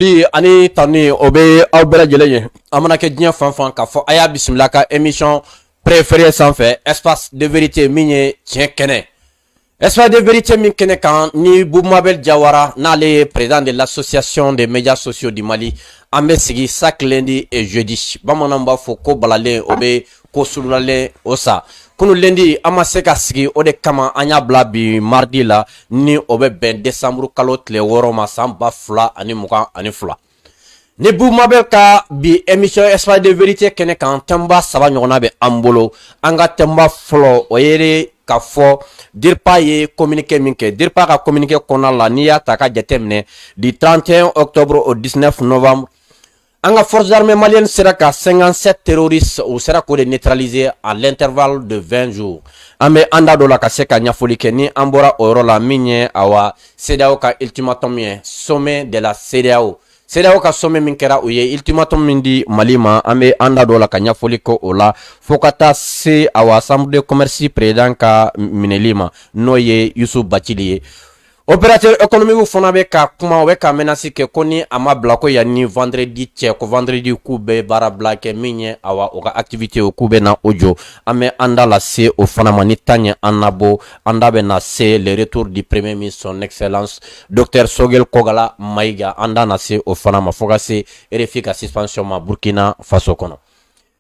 bi ani tanuni o bɛ aw bɛɛ lajɛlen ye aw mana kɛ diɲɛ fan fan k'a fɔ a y'a bisimila ka émission préférée sanfɛ espace de vérité min ye tiɲɛ kɛnɛ espace de vérité min kɛnɛ kan ni bubu mabɛl jawara n'ale ye président de l'association des médias sociaux du mali an bɛ sigi chaque lundi et jeudi bamananw b'a fɔ ko balalen o bɛ ko sulalen o sa kunu lundi an ma se ka sigi o de kama an y'a bila bi mardi la ni o bɛ bɛn desanburu kalo tile wɔɔrɔ ma san ba fila ani mugan ani fila ni bubu mabɛl ka bi émission espace de vérité kɛnɛ kan thème ba saba ɲɔgɔnna bɛ an bolo an ka thème ba fɔlɔ o ye k'a fɔ dirpa ye communiqué min kɛ dirpa ka communiqué kɔnɔna la n'i y'a ta ka jateminɛ du 31 octobre au 19 novembre An ka forces armées maliennes sera ka 57 terroristes u sera k'o de neutraliser à l'intervalle de 20 jours an bɛ an da don o la ka se ka ɲɛfɔli kɛ ni an bɔra o yɔrɔ la min ye awa CEDEAO ka ultimatum ye sommet de la CEDEAO CEDEAO ka sommet min kɛra u ye ultimatum min di Mali ma an bɛ an da don o la ka ɲɛfɔli kɛ o la fo ka taa se awa chambre de commerce président ka minɛli ma n'o ye Youssouf Bathily ye Opérateur économiquew fana bɛ ka kuma, u bɛ ka menace kɛ ko ni a ma bila ko yan ni vendredi cɛ, ko vendredi k'u bɛ baara bila kɛ min ye awa u ka activitéw k'u bɛ na o jɔ. An bɛ an da lase o fana ma ni temps ye an labɔ, an da bɛ na se le retour du premier ministre son excellence Docteur Choguel Kokalla Maïga, an da na se o fana ma fo ka se RFI ka suspension ma Burkina Faso kɔnɔ.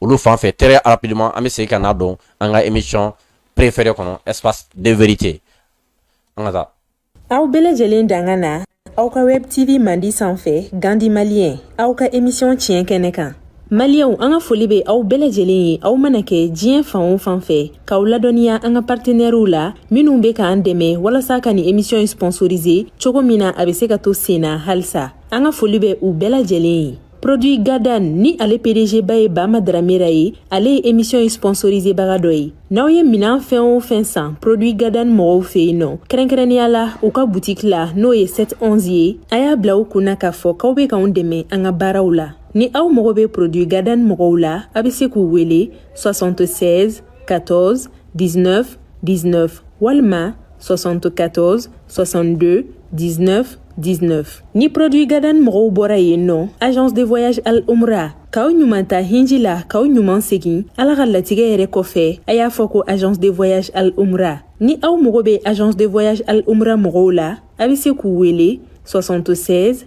olu fan fɛ très rapidement an bɛ segin ka na don an ka émission préférée kɔnɔ espace de vérité an ka taa. aw bɛɛ lajɛlen danga na aw ka web tv mandi sanfɛ gandi maliyɛn aw ka émission tiɲɛ kɛnɛ kan. maliyɛnw an ka foli bɛ aw bɛɛ lajɛlen ye aw mana kɛ diɲɛ fan o fan fɛ k'aw ladɔnniya an ka partenɛriw la minnu bɛ k'an dɛmɛ walasa ka nin emisiyɔn in sponsoriser cogo min na a bɛ se ka to sen na halisa an ka foli bɛ u bɛɛ lajɛlen ye produit gadan ni ale pdg ba ye bama dramera ye ale ye émission sponsorisé baga dɔ ye n'aw ye minan fɛn o fɛn san produit gadan mɔgɔw fɛ yen nɔ kɛrɛnkɛrɛnnenya la u ka butiki la n'o ye 711 ye a y'a bila u kunna k'a fɔ k'aw bɛ k'anw dɛmɛ an ka baaraw la ni aw mago bɛ produit gadan mɔgɔw la a bɛ se k'u wele 76 14 19 19 walima 74 62 19 19 ni produit gadan mɔgɔw bɔra yen nɔ agence de voyage al umra k'aw ɲuman taa hiji la k'aw ɲuman segin ala ka latigɛ yɛrɛ kɔfɛ a y'a fɔ ko agence de voyage al umra ni aw mago bɛ agence de voyage al umra mɔgɔw la a bɛ se k'u wele 76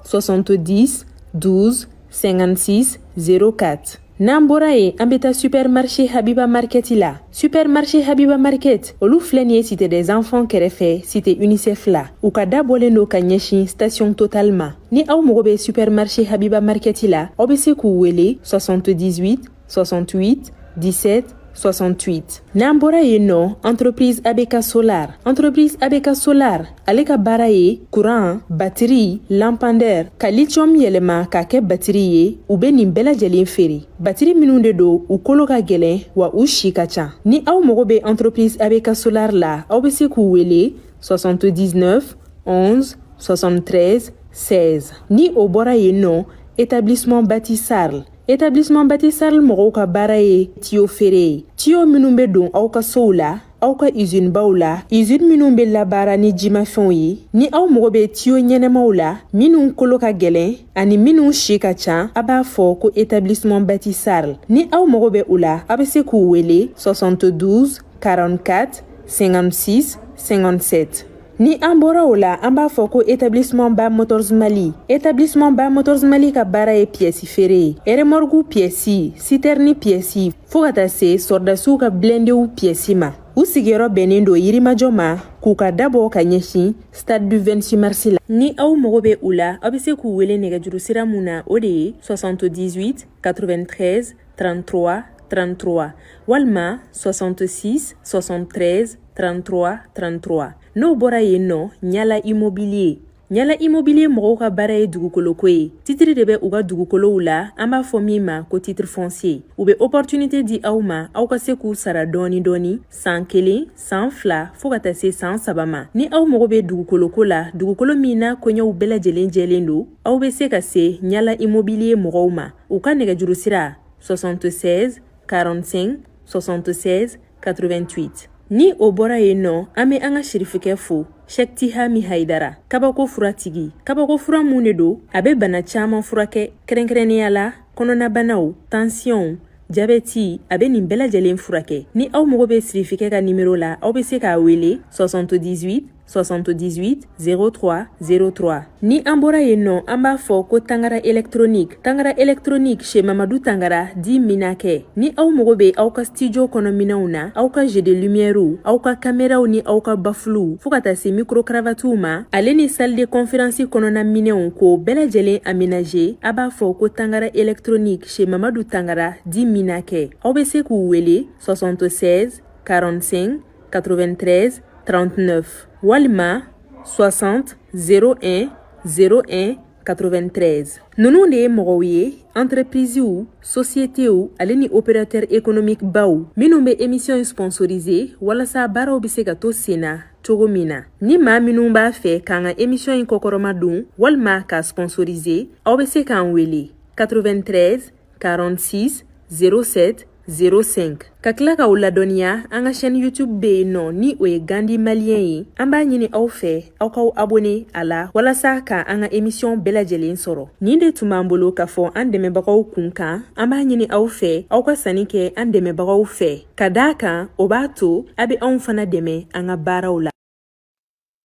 70 12 56 04 n'an bɔra yen an bɛ taa supermarché habiba market la supermarché habiba market olu filɛ nin ye cité des enfants kɛrɛfɛ cité unicef la u ka da bɔlen don ka ɲɛsin station total ma ni aw mago bɛ supermarché habiba market la aw bɛ se k'u wele 78 68 17 68 n'an bɔra yen nɔ entreprise ABK solar entreprise ABK solar ale ka baara ye kuran batiri lampandɛr ka lithium yɛlɛma k'a kɛ batiri ye u be nin bɛɛ lajɛlen feere batiri minw de don u kolo ka gwɛlɛn wa u si ka ca ni aw mago be entreprise ABK solar la aw be se k'u wele 79 11 73 16 ni o bɔra yen nɔ établissement bati sarl Établissement Bati sarl mɔgɔw ka baara ye tiyo feere ye tiyo minnu bɛ don aw ka sow la aw ka izini baw la izini minnu bɛ labaara ni jimafɛnw ye ni aw mago bɛ tiyo ɲɛnamaw la minnu kolo ka gɛlɛn ani minnu si ka ca a b'a fɔ ko établissement Bati sarl ni aw mago bɛ u la a bɛ se k'u wele 72 44 56 57 Ni an bɔra o la an b'a fɔ ko établissement ba motors mali établissement ba motors mali ka baara ye piyɛsi feere ye eremɔrigu piyɛsi sitɛrini piyɛsi fɔɔ ka taa se sɔrɔdasiw ka blendew piyɛsi ma u sigiyɔrɔ bɛnnen don yirimajɔ ma k'u ka da bɔ ka ɲɛsin stade du 26 mars la ni aw mago bɛ u la aw bɛ se k'u wele nɛgɛjuru sira mun na o de ye 78 93 33 33 walima 66 73 33 33 n'o bɔra yen nɔ ɲala immobilier ɲala immobilier mɔgɔw ka baara ye dugukoloko ye titiri de bɛ u ka dugukolow la an b'a fɔ min ma ko titre foncier u bɛ opportunité di aw ma aw ka se k'u sara dɔɔni dɔɔni saan kelen saan fila fɔɔ ka taa se saan saba ma ni aw mago bɛ dugukoloko la dugukolo min n'a koɲɛw bɛɛ lajɛlen jɛlen don aw bɛ se ka se ɲala immobilier mɔgɔw ma u ka nɛgɛjuru sira 76 45 76 88 ni o bɔra yen nɔ an be an ka sirifikɛ fo shɛki tihami haidara kabako furatigi kabako fura mun de don a be bana caaman furakɛ kɛrɛnkɛrɛnnenya la kɔnɔnabanaw tansiyɔnw jabɛti a be nin bɛɛ lajɛlen furakɛ ni aw mago be sirifikɛ ka nimero la aw be se k'a wele 78 78 03 03 ni an bɔra yen nɔ an b'a fɔ ko tangara électronique tangara électronique chez mamadu tangara dit minakɛ ni aw mago be aw ka stidiyo kɔnɔ minɛnw na aw ka jeu de lumièrew aw ka kameraw ni aw ka bafuluw fɔɔ ka taa se mikrokravatiw ma ale ni salle de conférence kɔnɔna minɛnw k'o bɛɛ lajɛlen amenaje a b'a fɔ ko tangara électronique chez mamadu tangara dit minakɛ aw be se k'u wele 76 45 93 39 walima 60 01 01 93 ninnu de ye mɔgɔw ye entreprisiw sosiyetiw ale ni opérateur économique baw minnu bɛ emisiyɔn sponsorise walasa baaraw bɛ se ka to sen na cogo min na ni maa minnu b'a fɛ k'an ka emisiyɔn in kɔkɔrɔmadon walima k'a sponsorise aw bɛ se k'an wele 93 46 07 05 ka tila k'aw ladɔnniya an ka chaîne youtube bɛ yen nɔ ni o ye gandhi malien ye an b'a ɲini aw fɛ aw k'aw abone a la walasa ka an ka emisiyɔn bɛɛ lajɛlen sɔrɔ nin de tun b'an bolo k'a fɔ an dɛmɛbagaw kun kan an b'a ɲini aw fɛ aw ka sanni kɛ an dɛmɛbagaw fɛ ka d'a kan o b'a to a bɛ anw fana dɛmɛ an ka baaraw la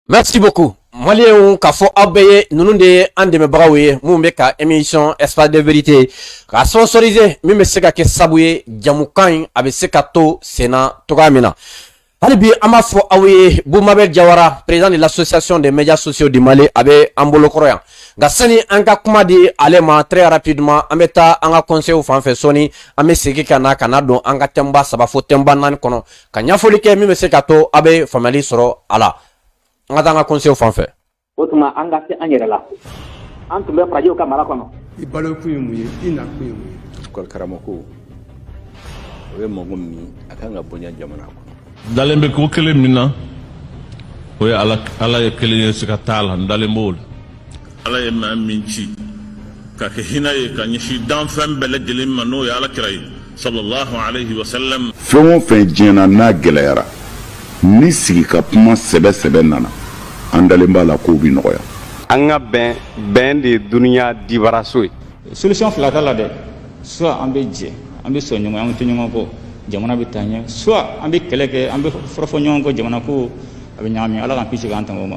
Merci beaucoup. Malienw k'a fɔ aw bɛɛ ye ninnu de ye an dɛmɛbagaw ye minnu bɛ ka émission espace de vérité ka sponsoriser min bɛ se ka kɛ sabu ye jamukan in a bɛ se ka to sen na cogoya min na. hali bi an b'a fɔ aw ye Boubou Mabel Diawara président de l'association des médias sociaux du Mali a bɛ an bolokɔrɔ yan nka sani an ka kuma di ale ma très rapidement an bɛ taa an ka conseils fan fɛ sɔɔni an bɛ segin ka na ka na don an ka thème ba saba fo thème ba naani kɔnɔ ka ɲɛfɔli kɛ min bɛ se ka to a bɛ faamuyali sɔrɔ a la an ka taa an ka kɔnsew fan fɛ o tuma an ka se an yɛrɛ la an tun bɛ farajɛw ka mara kɔnɔ i balokun ye mun ye i nakun ye mun ye école karamɔgɔ o ye mɔgɔ min ye a kan ka bonya jamana kɔnɔ n dalen bɛ ko kelen min na o ye ala ye kelen ye siga t'a la n dalen b'o la ala ye maa min ci ka kɛ hinɛ ye ka ɲɛsin danfɛn bɛɛ lajɛlen ma n'o ye ala kira ye sallallahu alayhi wa sallam fɛn o fɛn diɲɛ na n'a gɛlɛyara ni sigi ka kuma sɛbɛ sɛbɛ nana an dalen b'a la kow bi nɔgɔya an ka bɛn bɛn de ye dunuya dibaraso ye solution fila t'a la dɛ soit an bɛ jɛ an bɛ sɔn ɲɔgɔn an bɛ to ɲɔgɔn kɔ jamana bɛ taa ɲɛ soit an bɛ kɛlɛ kɛ an bɛ fɔrɔfɔ ɲɔgɔn kɔ jamana ko a bɛ ɲagami ala k'an kisi k'an tanga o ma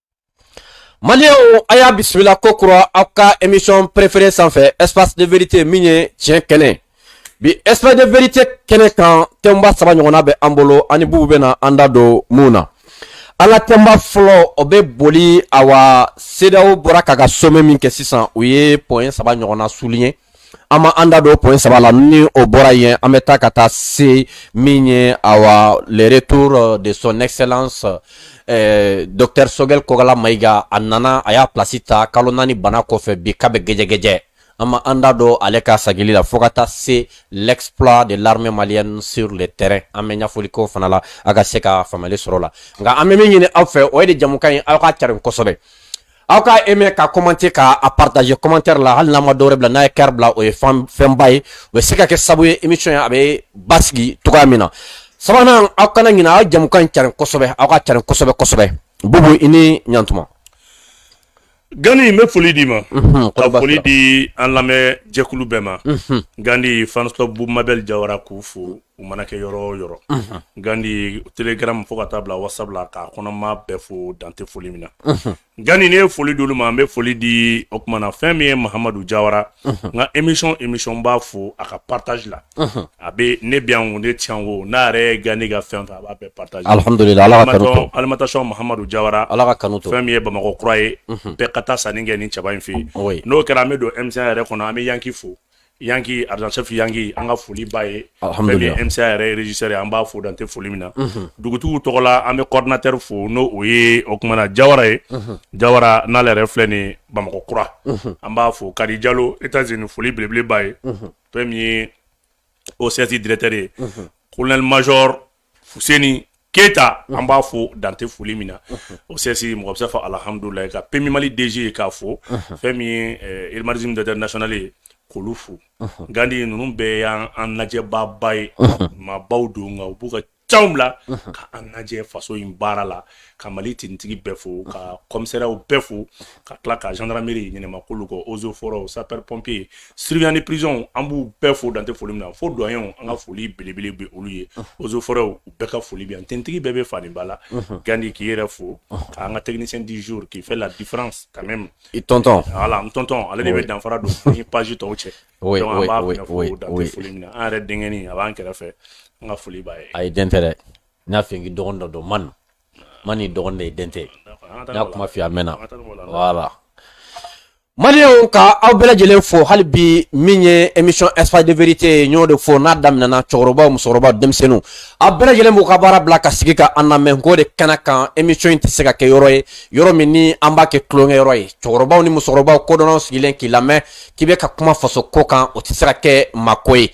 Malienw a y'a bisimila kokura aw ka émission préférée sanfɛ espace de vérité min ye tiɲɛ kɛnɛ bi espace de vérité kɛnɛ kan thème ba saba ɲɔgɔnna bɛ an bolo an ni Boubou bɛna an da don minnu na an ka thème ba fɔlɔ o bɛ boli awa CEDEAO bɔra k'a ka sommet min kɛ sisan u ye point saba ɲɔgɔnna souligner an bɛ an da don point saba la ni o bɔra yen an bɛ taa ka taa se min ye awa le retour euh, de son excellence eh, docteur Choguel Kokalla Maïga a nana a y'a plasi ta kalo naani bana kɔfɛ bi k'a bɛ gɛjɛgɛjɛ an bɛ an da don ale ka sagili la fo ka taa se l'exploit de l'armée malienne sur le terrain an bɛ ɲɛfɔli k'o fana la a ka se ka faamuyali sɔrɔ a la nka an bɛ min ɲini aw fɛ o ye de jamukan in aw k'a carin kosɛbɛ aw ka aimer ka commenter ka a partager commentaire la hali n'a ma dɔwɛrɛ bila n'a ye cœur bila o ye fɛnba ye o bɛ se ka kɛ sabu ye émission in a bɛ basigi cogo min na sabanan aw kana ɲinɛ aw jamukan in carin kosɛbɛ aw ka carin kosɛbɛ kosɛbɛ bubu i ni ɲantuma gandi n bɛ foli d'i ma mhm, ka foli di an lamɛn jɛkulu bɛɛ ma mhm. gandi fans bubu mabɛl jawara k'u fo u mana kɛ yɔrɔ o yɔrɔ gandi telegram fo ka taa bila whatsapp la k'a kɔnɔma bɛɛ fo dan tɛ foli min na gandi ne ye foli d'olu ma an bɛ foli di o tuma na fɛn min ye mahamadu jawara n ka émission b'a fo a ka partage la a bɛ ne bɛ yan wo ne tɛ yan wo n'a yɛrɛ ye gandi ka fɛn fɛ a b'a bɛɛ partage alhamdulillah ala ka kanu to alimentation mahamadu jawara ala ka kanu to fɛn min ye bamakɔ kura ye bɛɛ ka taa sanni kɛ ni cɛba in fɛ yen n'o kɛra an bɛ don MCA yɛrɛ kɔnɔ an bɛ yanki fo Yan k' arazsafi yan an ka foli ba yesa yɛrɛsare an b'a fɔ dante foli min na dugutigi tɔgɔ la an bɛ kɔdtɛ fo n'o o ye o tumaumana na jayara ye jayara n'ale yɛrɛ filɛ ni bamakɔ kura an b'a fɔ ka jalo e tɛ nin foli belebeleba ye fɛn min ye o sɛti dtɛre ye ko mazɔrɔ fuseni keyita an b'a fo dan tɛ foli min na OCS mɔgɔ bɛ se fɔ alihamdulila ka PMU mali DG k'a fo fɛn min ye eh, irimariz d'international ye k'olu fo gandi ninnu bɛɛ ye an lajɛbaaba ye maabaw don nka u b'u ka caw bila ka an lajɛ faso in baara la ka mali tinitigi bɛɛ fo ka kɔmisɛrɛw bɛɛ fo ka tila ka gendarmerie in ɲɛmaa k'olu fo eaux et forêts sapeur pompier surveillant de prison an b'u bɛɛ fo dan tɛ foli min na fo douane an ka foli belebele bɛ olu ye eaux et forêts u bɛɛ ka foli bɛ yan tinitigi bɛɛ bɛ fadenba la gandi k'i yɛrɛ fo ka an ka technicien du jour qui fait la différence quand même i tɔntɔn voilà n tɔntɔn ale de bɛ danfara don ni page tɔw cɛ donc an b'a fo dan tɛ foli min na an yɛrɛ denkɛnin a b'an kɛrɛfɛ an ka foli b'a ye a ye den tɛ dɛ n y'a fɔ k'i dɔgɔnin dɔ don man man ni dɔgɔnin de ye den tɛ n y'a kuma f'i ye a mɛnna voilà maliyɛnw ka aw bɛɛ lajɛlen fo hali bi min ye émission espace de vérité ye n y'o de fɔ n'a daminɛna cɛkɔrɔbaw musokɔrɔbaw denmisɛnninw a bɛɛ lajɛlen b'u ka baara bila ka sigi ka an lamɛn k'o de kɛnɛ kan émission in tɛ se ka kɛ yɔrɔ ye yɔrɔ min ni an b'a kɛ tulonkɛ yɔrɔ ye cɛkɔrɔbaw ni musokɔrɔbaw kodɔnnaw sigilen k'i lamɛn k'i bɛ ka kuma faso ko kan o tɛ se ka kɛ maako ye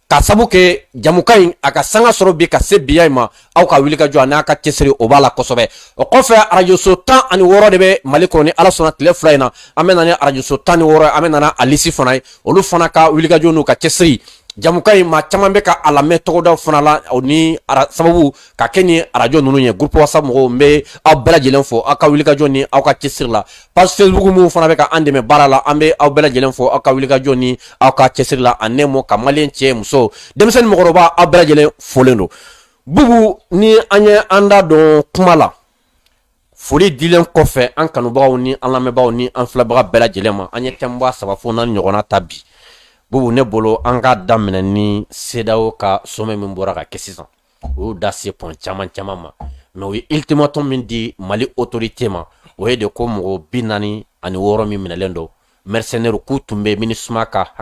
k'a sabu kɛ jamukan in a ka sanga sɔrɔ bi ka se biya in ma aw ka wulikajɔ ani aw ka cɛsiri o b'a la kosɛbɛ o kɔfɛ arajoso tan ani wɔɔrɔ de bɛ mali kɔnɔ ni ala sɔnna tile fila in na an bɛ na ni arajoso tan ni wɔɔrɔ an bɛ na n'a lisi fana ye olu fana ka wulikajɔ n'u ka cɛsiri jamukan in maa caman bɛ ka a lamɛn tɔgɔdaw fana la o ni sababu ka kɛ ni arajo ninnu ye groupe whatsapp mɔgɔw n bɛ aw bɛɛ lajɛlen fo aw ka wulikajɔ ni aw ka cɛsiri la page facebook minnu fana bɛ ka an dɛmɛ baara la an bɛ aw bɛɛ lajɛlen fo aw ka wulikajɔ ni aw ka cɛsiri la en un mot ka malien cɛ muso denmisɛnnin mɔgɔkɔrɔba aw bɛɛ lajɛlen folen don bubu ni an ye an da dɔn kuma la foli dilen kɔfɛ an kanubagaw ni an lamɛnbagaw ni an filɛbaga bɛɛ lajɛlen ma an ye thème ba saba fo naani ɲɔgɔnna ta bi bubu ne bolo an ka daminɛ ni CEDEAO ka sommet min bɔra ka kɛ sisan u y'u da se point caman caman ma mais u ye ultimatum min di Mali autorité ma o ye de ko mɔgɔ bi naani ani wɔɔrɔ min minɛlen don mercenaires k'u tun bɛ MINUSMA ka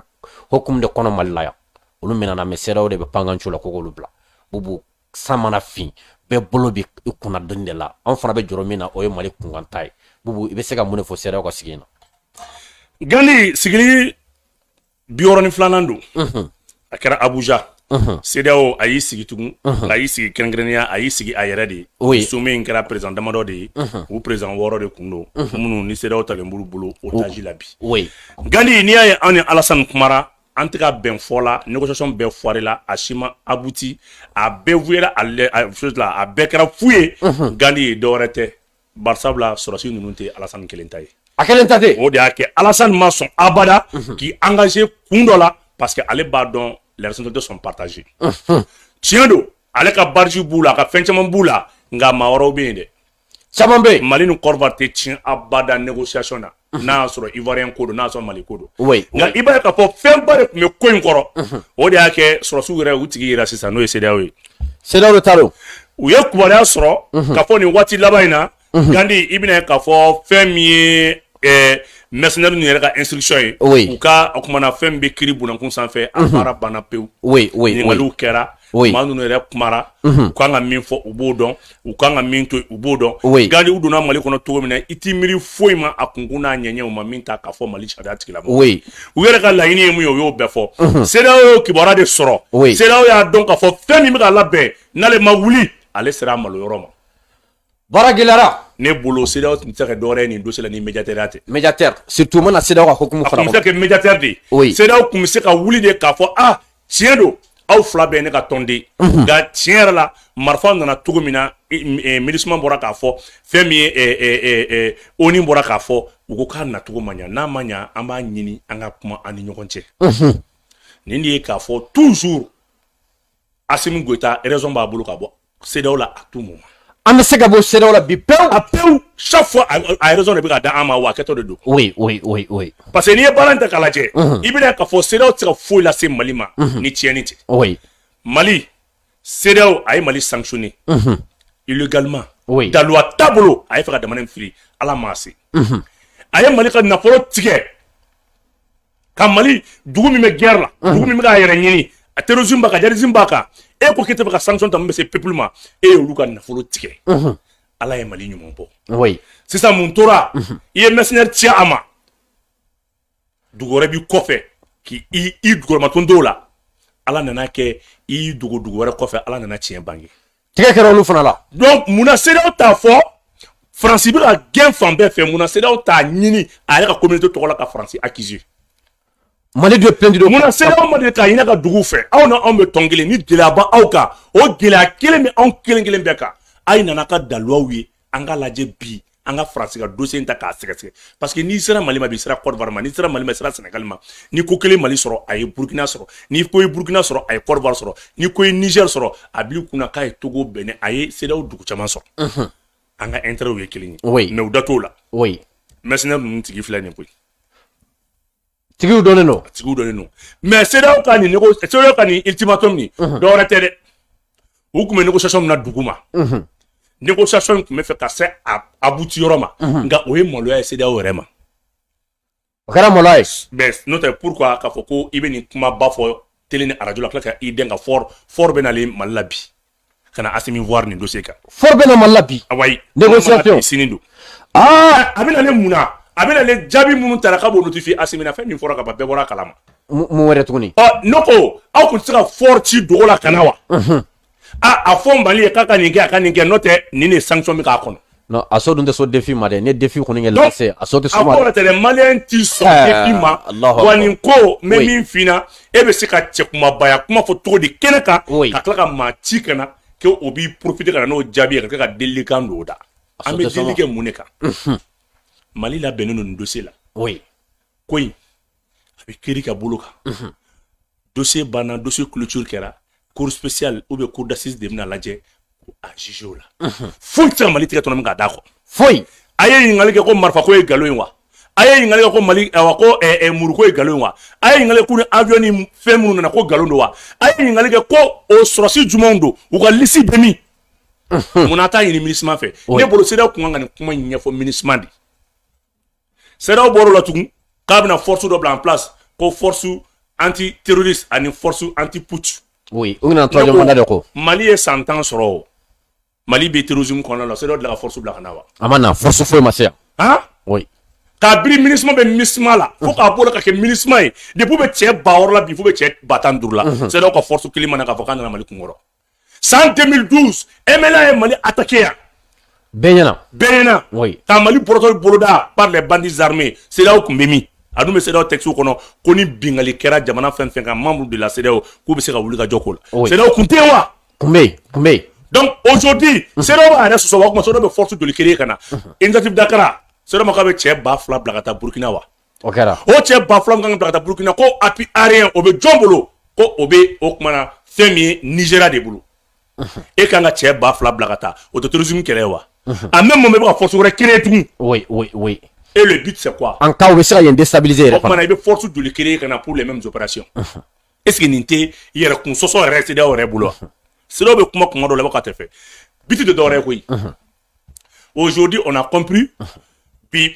hukumu de kɔnɔ Mali la yan olu minɛna mais CEDEAO de bɛ pankacun la ko k'olu bila bubu san mana fin bɛɛ bolo bɛ i kunna doni de la an fana bɛ jɔrɔ min na o ye Mali kunkan ta ye bubu i bɛ se ka mun de fɔ CEDEAO ka sigi in na. Gandi sigili bi wɔɔrɔ ni filanan don a kɛra abuja CEDEAO a y'i sigi tugun a y'i sigi kɛrɛnkɛrɛnnenya a y'i sigi a yɛrɛ de ye sommet in kɛra président damadɔ de ye u président wɔɔrɔ de tun don minnu ni CEDEAO talen b'olu bolo otage la bi Gandi n'i y'a ye an ni Alasani kumara an tɛ ka bɛn fɔ la négociation bɛɛ foiré la a si ma abouti a bɛɛ fu a bɛɛ kɛra fu ye Gandi ye dɔwɛrɛ tɛ Barisabula sɔrɔsi ninnu tɛ Alasani kelen ta ye, a kelen ta tɛ, o de y'a kɛ Alasani ma sɔn abada k'i engager kun dɔ la parce que ale b'a dɔn les responsabilités sont partagées tiɲɛ don ale ka badge b'u la a ka fɛn caman b'u la nka maa wɛrɛw bɛ yen dɛ, caman bɛ yen, Mali ni Kɔdiwari tɛ tiɲɛ abada négociation na n'a y'a sɔrɔ ivoirien ko don n'a y'a sɔrɔ mali ko don nka i b'a ye k'a fɔ fɛnba de tun bɛ ko in kɔrɔ o de y'a kɛ sɔrɔsiw yɛrɛ u tigi yira sisan n'o ye CEDEAO ye CEDEAO de ta don u ye kubaruya sɔrɔ k'a fɔ nin waati laban in na gandi i bɛna ye k'a fɔ fɛn min ye eh, mercenaire ninnu yɛrɛ ka instruction ye u ka o kumana fɛn bɛ tribunal kun sanfɛ a baara banna pewu ɲininkaliw kɛra maa ninnu yɛrɛ kumara u kan ka min fɔ u b'o dɔn u kan ka min to u b'o dɔn gandi u donna mali kɔnɔ cogo min na i t'i miiri foyi ma a kunkun n'a ɲɛɲɛ u ma min ta k'a fɔ mali sariya tigilamaa u yɛrɛ ka laɲini ye mun ye u y'o bɛɛ fɔ CEDEAO y'o kibaruya de sɔrɔ CEDEAO y'a dɔn k'a fɔ fɛn min bɛ ka labɛn n'ale ma wuli ale sera a maloyɔrɔ ma Baara gɛlɛyara ne bolo CEDEAO tun tɛ se ka dɔwɛrɛ ye nin dossier la ni médiateurya tɛ médiateur surtout mana CEDEAO ka hukumu fara a tun bɛ se ka kɛ médiateur de ye CEDEAO tun bɛ se ka wuli de k'a fɔ ah tiɲɛ don aw fila bɛɛ ye ne ka tɔnden nka tiɲɛ yɛrɛ la marifa nana cogo min na MINUSMA bɔra k'a fɔ fɛn min ye ONU bɔra k'a fɔ u ko k'a nacogo ma ɲa n'a ma ɲa an b'a ɲini an ka kuma an ni ɲɔgɔn cɛ nin de ye k'a fɔ toujours Asimi Goita raison b'a bolo ka bɔ CEDEAO la à tout moment an bɛ se ka bɔ CEDEAO la bi pewu a pewu chaque fois a raison de bɛ ka da an ma wa a kɛtɔ de don oui oui oui oui parce que n'i ye baara in ta k'a lajɛ i bɛna k'a fɔ CEDEAO tɛ se ka foyi lase Mali ma ni tiɲɛni tɛ oui Mali CEDEAO a ye Mali sanctionné illégalement oui daluwa t'a bolo a ye fɛ ka jamana in firi Ala m'a se a ye Mali ka nafolo tigɛ ka mali dugu min bɛ guerre la mhm. dugu min bɛ k'a yɛrɛ ɲini a terrorisme b'a kan djihadisme b'a kan e ko k'e tɛ fɛ ka sanction ta min bɛ se peuple ma e y'olu ka nafolo tigɛ mhm. ala ye mali ɲuman bɔ oui. sisan mun tora mhm. i ye mercenaire ci a ma dugu wɛrɛ b'i kɔfɛ k'i i dugukɔrɔmaton dɔw la ala nana kɛ i dogo dugu wɛrɛ kɔfɛ ala nana tiɲɛ bange tigɛ kɛra olu fana la donc mun na CEDEAO t'a fɔ faransi bɛ ka gɛn fan bɛɛ fɛ mun na CEDEAO t'a ɲini a yɛrɛ ka communauté tɔgɔ la ka faransi accuser mali de plainte don mun na CEDEAO ma deli k'a ɲini a ka duguw fɛ aw na anw bɛ tɔn kelen ni gɛlɛya b'aw kan o gɛlɛya kelen bɛ anw kelen kelen bɛɛ kan a ye na an ka daluwaw ye an ka lajɛ bi an ka faransi ka dossier in ta k'a sɛgɛsɛgɛ parce que n'i sera mali ma bi sera Côte d'Ivoire ma n'i sera mali ma sera sɛnɛgali ma ni ko kelen mali sɔrɔ a ye burukina sɔrɔ ni ko ye burukina sɔrɔ a ye Côte d'Ivoire sɔrɔ ni ko ye niger sɔrɔ a bil'i kun na k'a ye togo Bénin a ye CEDEAO dugu caman sɔrɔ an ka intérêtw ye kelen ye mais u da t'o la mercenaire ninnu tigi filɛ nin koyi tigiw dɔnnen don tigiw dɔnnen don mais CEDEAO ka nin CEDEAO ka nin ultimatum nin dɔwɛrɛ tɛ dɛ u tun bɛ négociation min na duguma négociation in tun bɛ fɛ ka se a aboutir yɔrɔ ma nka o ye maloya ye CEDEAO yɛrɛ ma o kɛra maloya ye mais n'o tɛ pourquoi k'a fɔ ko i bɛ nin kumaba fɔ tele ni arajo la tila ka i den ka Faure Faure bɛ nalen mali la bi ka na Asimi voir nin dossier kan. Faure bɛ na Mali la bi. Awayi. Négociation. Sini don. Aa. A bɛna ne mun na? A bɛna ne jaabi minnu tara k'a b'o notifier Asimi na fɛn min fɔra ka ban bɛɛ bɔra a kalama. Mun wɛrɛ tuguni? Ɔ ne ko aw tun tɛ se ka Faure ci dogo la ka na wa? Unhun. A a fɔ Mali ye k'a ka nin kɛ a ka nin kɛ n'o tɛ nin de ye sanction bɛ k'a kɔnɔ. Non Aso dun tɛ sɔn défi ma dɛ, n'i ye défi kɔni kɛ lancer Aso tɛ sɔn o ma dɛ, donc a kɔrɔ tɛ dɛ maliyɛn tɛ sɔn défi ma, ɛɛ Alahu akibaru, wa ne ko n bɛ min f'i ɲɛna e bɛ se ka cɛkunbabaya kuma fɔ cogo di kɛnɛ kan ka tila ka maa ci ka na ko o b'i profiter ka na n'o jaabi ye ka tila ka delilikan don o da, an bɛ delili kɛ mun de kan, unhun, Mali labɛnnen don nin dossier la, ko in a bɛ kiri ka bolo kan, unhun. dossier banna dossier clôture kɛra cour spéciale ou bien cour d'assises de bɛna lajɛ k'a juger o la foyi tɛ se ka mali tɛgɛ tɔnɔmi k'a d'a kɔ foyi a ye ɲininkali kɛ ko marifa ko ye galo ye wa a ye ɲininkali kɛ ko mali awa ko eh, eh, mugu ko ye galo ye wa a ye ɲininkali kɛ ko ni avion ni fɛn minnu nana ko galo don wa a ye ɲininkali kɛ ko o sɔrɔsi jumɛnw don u ka lisi bɛ min mun na a t'a ɲini MINUSMA fɛ ne bolo CEDEAO tun kan ka nin kuma in ɲɛfɔ MINUSMA de CEDEAO bɔr'o la tugun k'a bɛna force dɔ bila en place ko force anti terroriste ani force anti putsch oui u nana troisième mandat de ko Mali ye san tan sɔrɔ o Mali bɛ terrorisme kɔnɔna la CEDEAO delila ka force bila ka na wa a ma na force foyi ma se yan han oui kabiri MINUSMA bɛ MINUSMA la fo k'a bɔ o la ka kɛ MINUSMA ye depuis u bɛ cɛ ba wɔɔrɔ la bi fo bɛ cɛ ba tan duuru la CEDEAO ka force kelen ma na k'a fɔ k'a nana Mali kunkɔrɔ san 2012 MNLA ye Mali attaquer yan bɛɛ ɲɛna bɛɛ ɲɛna oui ka Mali bɔrɔtɔ boloda par les bandits armés CEDEAO tun bɛ min a dun bɛ CEDEAO texte kɔnɔ ko ni binkanni kɛra jamana fɛn fɛn kan membre de la CEDEAO k'u bɛ se ka wuli ka jɔ ko la CEDEAO tun tɛ yen wa tun bɛ yen tun bɛ yen donc aujourd'hui CEDEAO b'a yɛrɛ sɔsɔ wa o tuma CEDEAO bɛ force joli créer ka na initiative d'Accra CEDEAO ma k'a bɛ cɛ ba fila bila ka taa Burkina wa o kɛra o cɛ ba fila min kan ka bila ka taa Burkina ko appui aérien o bɛ jɔn bolo ko o bɛ o kumana fɛn min ye Nigeria de bolo e kan ka cɛ ba fila bila ka taa o tɛ terrorisme kɛlɛ ye wa en même moment bɛ ka force wɛrɛ créer tugun oui oui oui et le but c'est quoi en cas u bɛ se ka yen déstabiliser yɛrɛ fana o kumana i bɛ force joli créer ka na pour les mêmes opérations est ce que nin tɛ yɛrɛ kun sɔsɔ yɛrɛ CEDEAO yɛrɛ bolo wa CEDEAO bɛ kuma kuma dɔ la i b'a ka tɛ fɛ but tɛ dɔwɛrɛ ye koyi aujourd'hui on a compris bi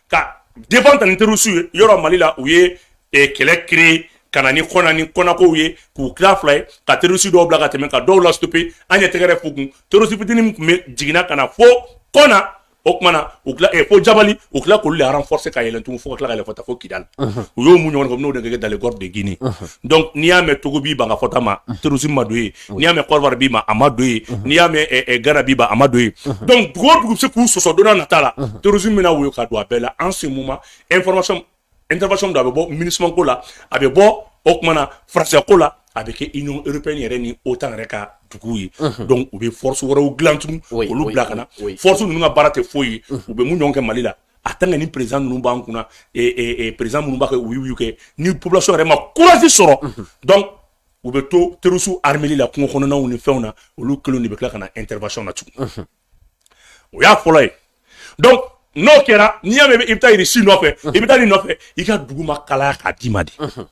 ka défendre ni terroristes ye yɔrɔ mali la u ye eh, kɛlɛ créer ka na ni kɔna ni kɔnakow ye k'u tila fila ye ka terroristes dɔw bila ka tɛmɛ ka dɔw la stopper an ye tɛgɛrɛ fɔ u kun terroriste fitini min tun bɛ jiginna ka na fo kɔna o tuma na u tila eh, fo jabali u tila k'olu le renforcer ka yɛlɛn tugun fo ka tila ka yɛlɛn fɔta fo kidali u y'o mun ɲɔgɔn kɛ n'o de kɛ dans le golfe de Guinée donc n'i y'a mɛn Togo b'i ban ka fɔta ma terrorisme ma don yen n'i y'a mɛn Côte d'Ivoire b'i ban a ma don yen n'i y'a mɛn Ghana b'i ban a ma don yen donc dugu o dugu bɛ se k'u sɔsɔ don nata la terrorisme bɛna woyo ka don a bɛɛ la en ce moment information intervention dɔ a bɛ bɔ MINUSMA ko la a bɛ bɔ o tuma na faransɛ ko la a bɛ kɛ union européenne yɛrɛ ni OTAN yɛrɛ ka duguw ye donc u bɛ force wɛrɛw dilan tugun olu bila ka na force ninnu ka baara tɛ foyi ye u bɛ min ɲɔgɔn kɛ Mali la a tant que ni président ninnu b'an kunna président minnu b'a kɛ wuyuwuyu kɛ ni population yɛrɛ ma courage sɔrɔ donc u bɛ to terrorisiw armeli la kungo kɔnɔnaw ni fɛnw na olu kelen de bɛ tila ka na intervention na tugun mhm. o y'a fɔlɔ ye donc n'o kɛra n'i y'a mɛn i bɛ taa irisi nɔfɛ i bɛ taa nin nɔfɛ i ka dugu ma kalaya k'a d'i ma de mhm.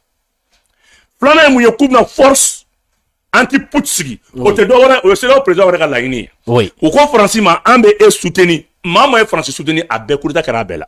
filanan ye mun ye k'u bɛna force anti putsch sigi o tɛ dɔ wɛrɛ o ye CEDEAO présidentw yɛrɛ ka laɲini ye u ko faransi ma an bɛ e soutenir maa maa ye faransi soutenir a bɛɛ coup d'état kɛra a bɛɛ la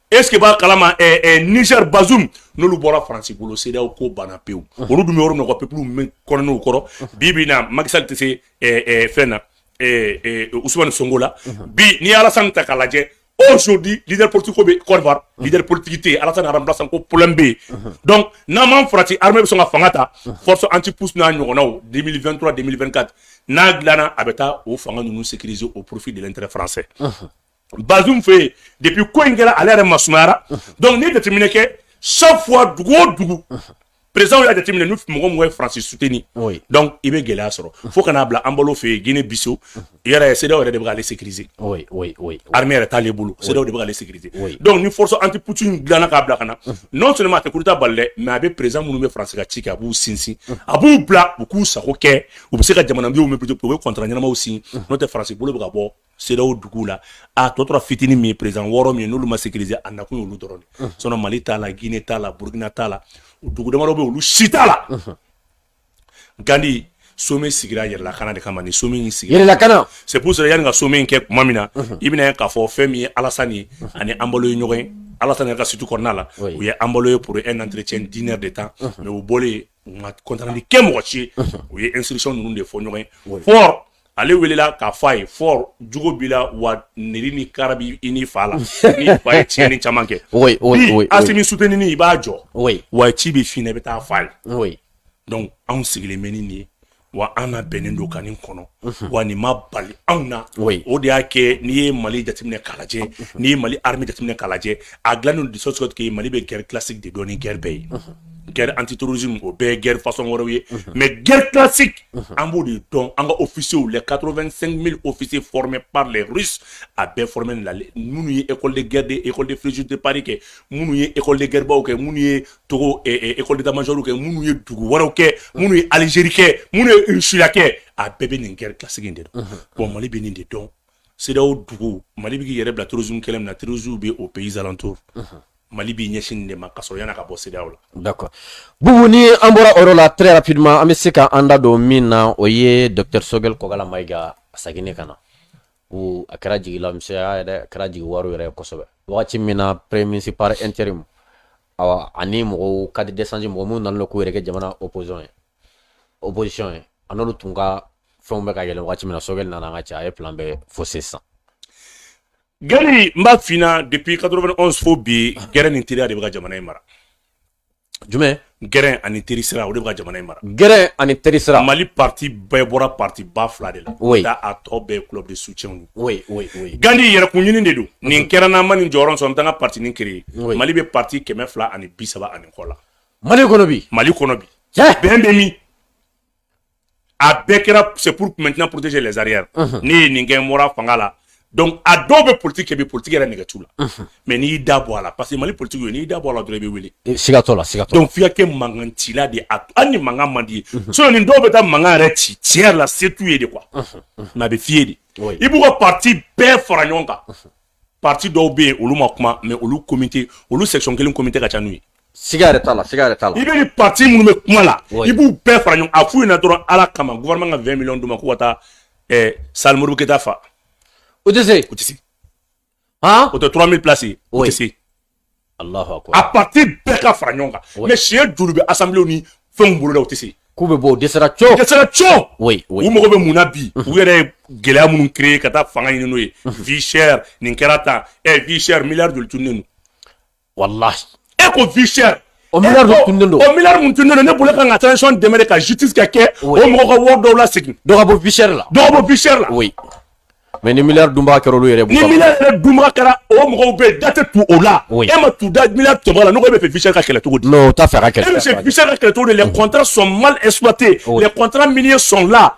est ce que b'a kalama eh, eh, Niger Bazoum n'olu bɔra faransi bolo CEDEAO ko banna pewu olu dun bɛ yɔrɔ min na ka peuple min kɔnɔn'o kɔrɔ bi bi in na Macky Sall tɛ se eh, eh, fɛn na eh, eh, Ousmane Sonko la bi n'i ye Alassane ta k'a lajɛ aujourd'hui leader politique ko bɛ Côte d'Ivoire leader politique tɛ yen Alassane a remplaçant ko problème bɛ yen donc n'an m'an farati armée bɛ sɔn ka fanga ta force anti putsch n'a ɲɔgɔnnaw 2023 2024 n'a dilanna a bɛ taa o fanga ninnu sécuriser au profit de l'intérêt français Bazum fɛ yen depuis ko in kɛra ale yɛrɛ masumayara donc n'i ye jateminɛ kɛ chaque fois dugu o dugu président y'a jateminɛ ni mɔgɔ mɔgɔ ye France soutenir donc i bɛ gɛlɛya sɔrɔ fo ka n'a bila Embalo fɛ yen Guinée Bissau yɛrɛ CEDEAO yɛrɛ de bɛ k'ale sécuriser armée yɛrɛ t'ale bolo CEDEAO de bɛ k'ale sécuriser donc ni force anti-putsch in dilanna k'a bila ka na non seulement a tɛ coup d'état bali dɛ mais a bɛ président minnu bɛ France ka ci kɛ a b'u sinsin a b'u bila u k'u sago kɛ u bɛ se ka jamanadenw mobiliser u bɛ contrat ɲɛnamaw signer n'o tɛ France bolo bɛ ka bɔ CEDEAO duguw la a tɔ tora fitini min ye président wɔɔrɔ min ye n'olu ma sécuriser a nakun y'olu dɔrɔn de sinon Mali t'a la Guinée t'a la Burkina t'a la dugu damadɔ bɛ olu si t'a la Gandi sommet sigira yɛrɛlakana de kama ni sommet in sigira yɛrɛlakana c'est pour cela yanni ka sommet in kɛ tuma min na i bɛna ye k'a fɔ fɛn min ye Alassane ye ani Embalo ye ɲɔgɔn ye Alassane ka suite kɔnɔna la u ye Embalo ye pour un entretien d'une heure de temps mais u bɔlen compte rendu kɛ mɔgɔ si ye u ye instruction ninnu de fɔ ɲɔgɔn ye Faure ale welela k'a fɔ a ye Faure jugu b'i la wa nɛri ni kara b'i n'i fa la ni fa ye tiɲɛni caman kɛ Asimi soutenir i b'a jɔ wa ci bɛ f'i ɲɛna i bɛ taa f'a ye donc anw sigilen bɛ ni nin ye wa an na bɛnnen don kan kɔnɔ mhm. wa nin ma bali anw na o de y'a kɛ n'i ye mali jateminɛ kalajɛ mhm. n'i ye mali hame jateminɛ kalajɛ a dilannen dusu sɔtigɛ mali bɛ gɛrɛ kilasi de dɔn ni gɛrɛ bɛɛ ye mhm. gɛrɛ an tetosi o bɛɛ gɛrɛ fasɔn wɛrɛw ye mɛ gɛrɛ kilasi an b'o de dɔn an ka ofisiw la kato2 mi ofisi fmɛ pa la rusi a bɛɛ fmɛ lale minnu ye ekɔli gɛrɛden ekɔli fisi de pari kɛ minnu ye ekɔli gɛrɛbaw kɛ minnu ye Togo école d'état major kɛ minnu ye dugu wɛrɛw kɛ minnu ye Algérie kɛ minnu ye Irisila kɛ a bɛɛ bɛ nin guerre classique in de dɔn bon Mali bɛ nin de dɔn CEDEAO dugu Mali bɛ k'i yɛrɛ bila terrorisme kɛlɛ min na terroristes bɛ aux pays alentours Mali b'i ɲɛsin nin de ma ka sɔrɔ yan'a ka bɔ CEDEAO la. D'accord Bubu ni an bɔra o yɔrɔ la très rapidement an bɛ se ka an da don min na o ye docteur Choguel Kokalla Maïga a seginni ka na o a kɛra jigilamisɛnya yɛrɛ a kɛra jigiwaaro yɛrɛ ye kosɛbɛ wagati min na premier ministre par intérim awa ani mɔgɔw cadre d'échange mɔgɔ minnu nana k'u yɛrɛ kɛ jamana opposition ye a n'olu tun ka fɛnw bɛ ka yɛlɛ wagati min na Choguel nana an ka cɛ a ye plan bɛɛ fausser sisan Gandi n b'a f'i ɲɛna depuis 91 fo bi gɛrɛn ni teriya de bɛ ka jamana in mara jumɛn gɛrɛn ani teri sira o de bɛ ka jamana in mara gɛrɛn ani teri sira mali parti bɛɛ bɔra parti ba fila de la oui. da a tɔ bɛɛ club de soutien gandi yɛrɛkun ɲini de don nin kɛra n'an ma nin jɔyɔrɔ sɔrɔ n taa n ka parti nin créer mali bɛ parti kɛmɛ fila ani bi saba ani kɔ la mali kɔnɔ bi bɛn bɛ min a bɛɛ kɛra c'est pour maintenant protéger les arrières ne ye nin kɛ n bɔra fanga la donc a dɔw bɛ politique kɛ bi politique yɛrɛ nege t'u la mais n'i y'i da bɔ a la parce que mali politiki ye n'i y'i da bɔ a la dɔrɔn i bɛ wuli eh, siga t'o la siga t'o donc f'i ka kɛ mankan cila de ye hali ni mankan man di ye mhm. sinon nin dɔw bɛ taa mankan yɛrɛ ci tiɲɛ yɛrɛ la se t'u ye de quoi mais mhm, mhm. a bɛ f'i ye de i b'u ka parti bɛɛ fara ɲɔgɔn kan parti dɔw bɛ yen olu ma kuma mais olu komite olu section kelen komite ka ca n'u ye siga yɛrɛ t'a la siga yɛrɛ t'a la i bɛ ni parti minnu bɛ kuma la i b'u bɛɛ fara ɲɔgɔn a f'u ɲɛna dɔrɔn ala kama gouvernement ka 20 millions d'u ma k'u ka taa eh, salle Modibo Keita fa o tɛ se o tɛ se Han o tɛ 3000 place ye o tɛ se Alahu akibaru a parti bɛɛ ka fara ɲɔgɔn kan mais siɲɛ joli bɛ assemblée ni fɛnw boloda o tɛ se k'u bɛ bɔ o dɛsɛra cɔ u dɛsɛra cɔ oui oui u mago bɛ mun na bi u yɛrɛ ye gɛlɛya minnu créer ka taa fanga ɲini n'o ye vie chère nin kɛra tan ɛ vie chère milliard joli tununnen don wala e ko vie chère o miliyari tununnen don o miliyari mun tununnen don ne bolo e kan ka transition dɛmɛ de ka justice ka kɛ o mɔgɔ ka wari dɔw lasegin dɔ ka bɔ vie chère la dɔ ka bɔ vie chère la oui mais ni miliyari dunbaga kɛra olu yɛrɛ bolo ni miliyari yɛrɛ dunbaga kɛra o mɔgɔw bɛ yen da tɛ tu o la e ma tu da miliyari tɔmɔ la ne ko e bɛ fɛ vie chère ka kɛlɛ cogo di non o t'a fɛ ka kɛlɛ e bɛ fɛ vie chère ka kɛlɛ cogo di les contrats sont mal exploités les contrats miniers sont là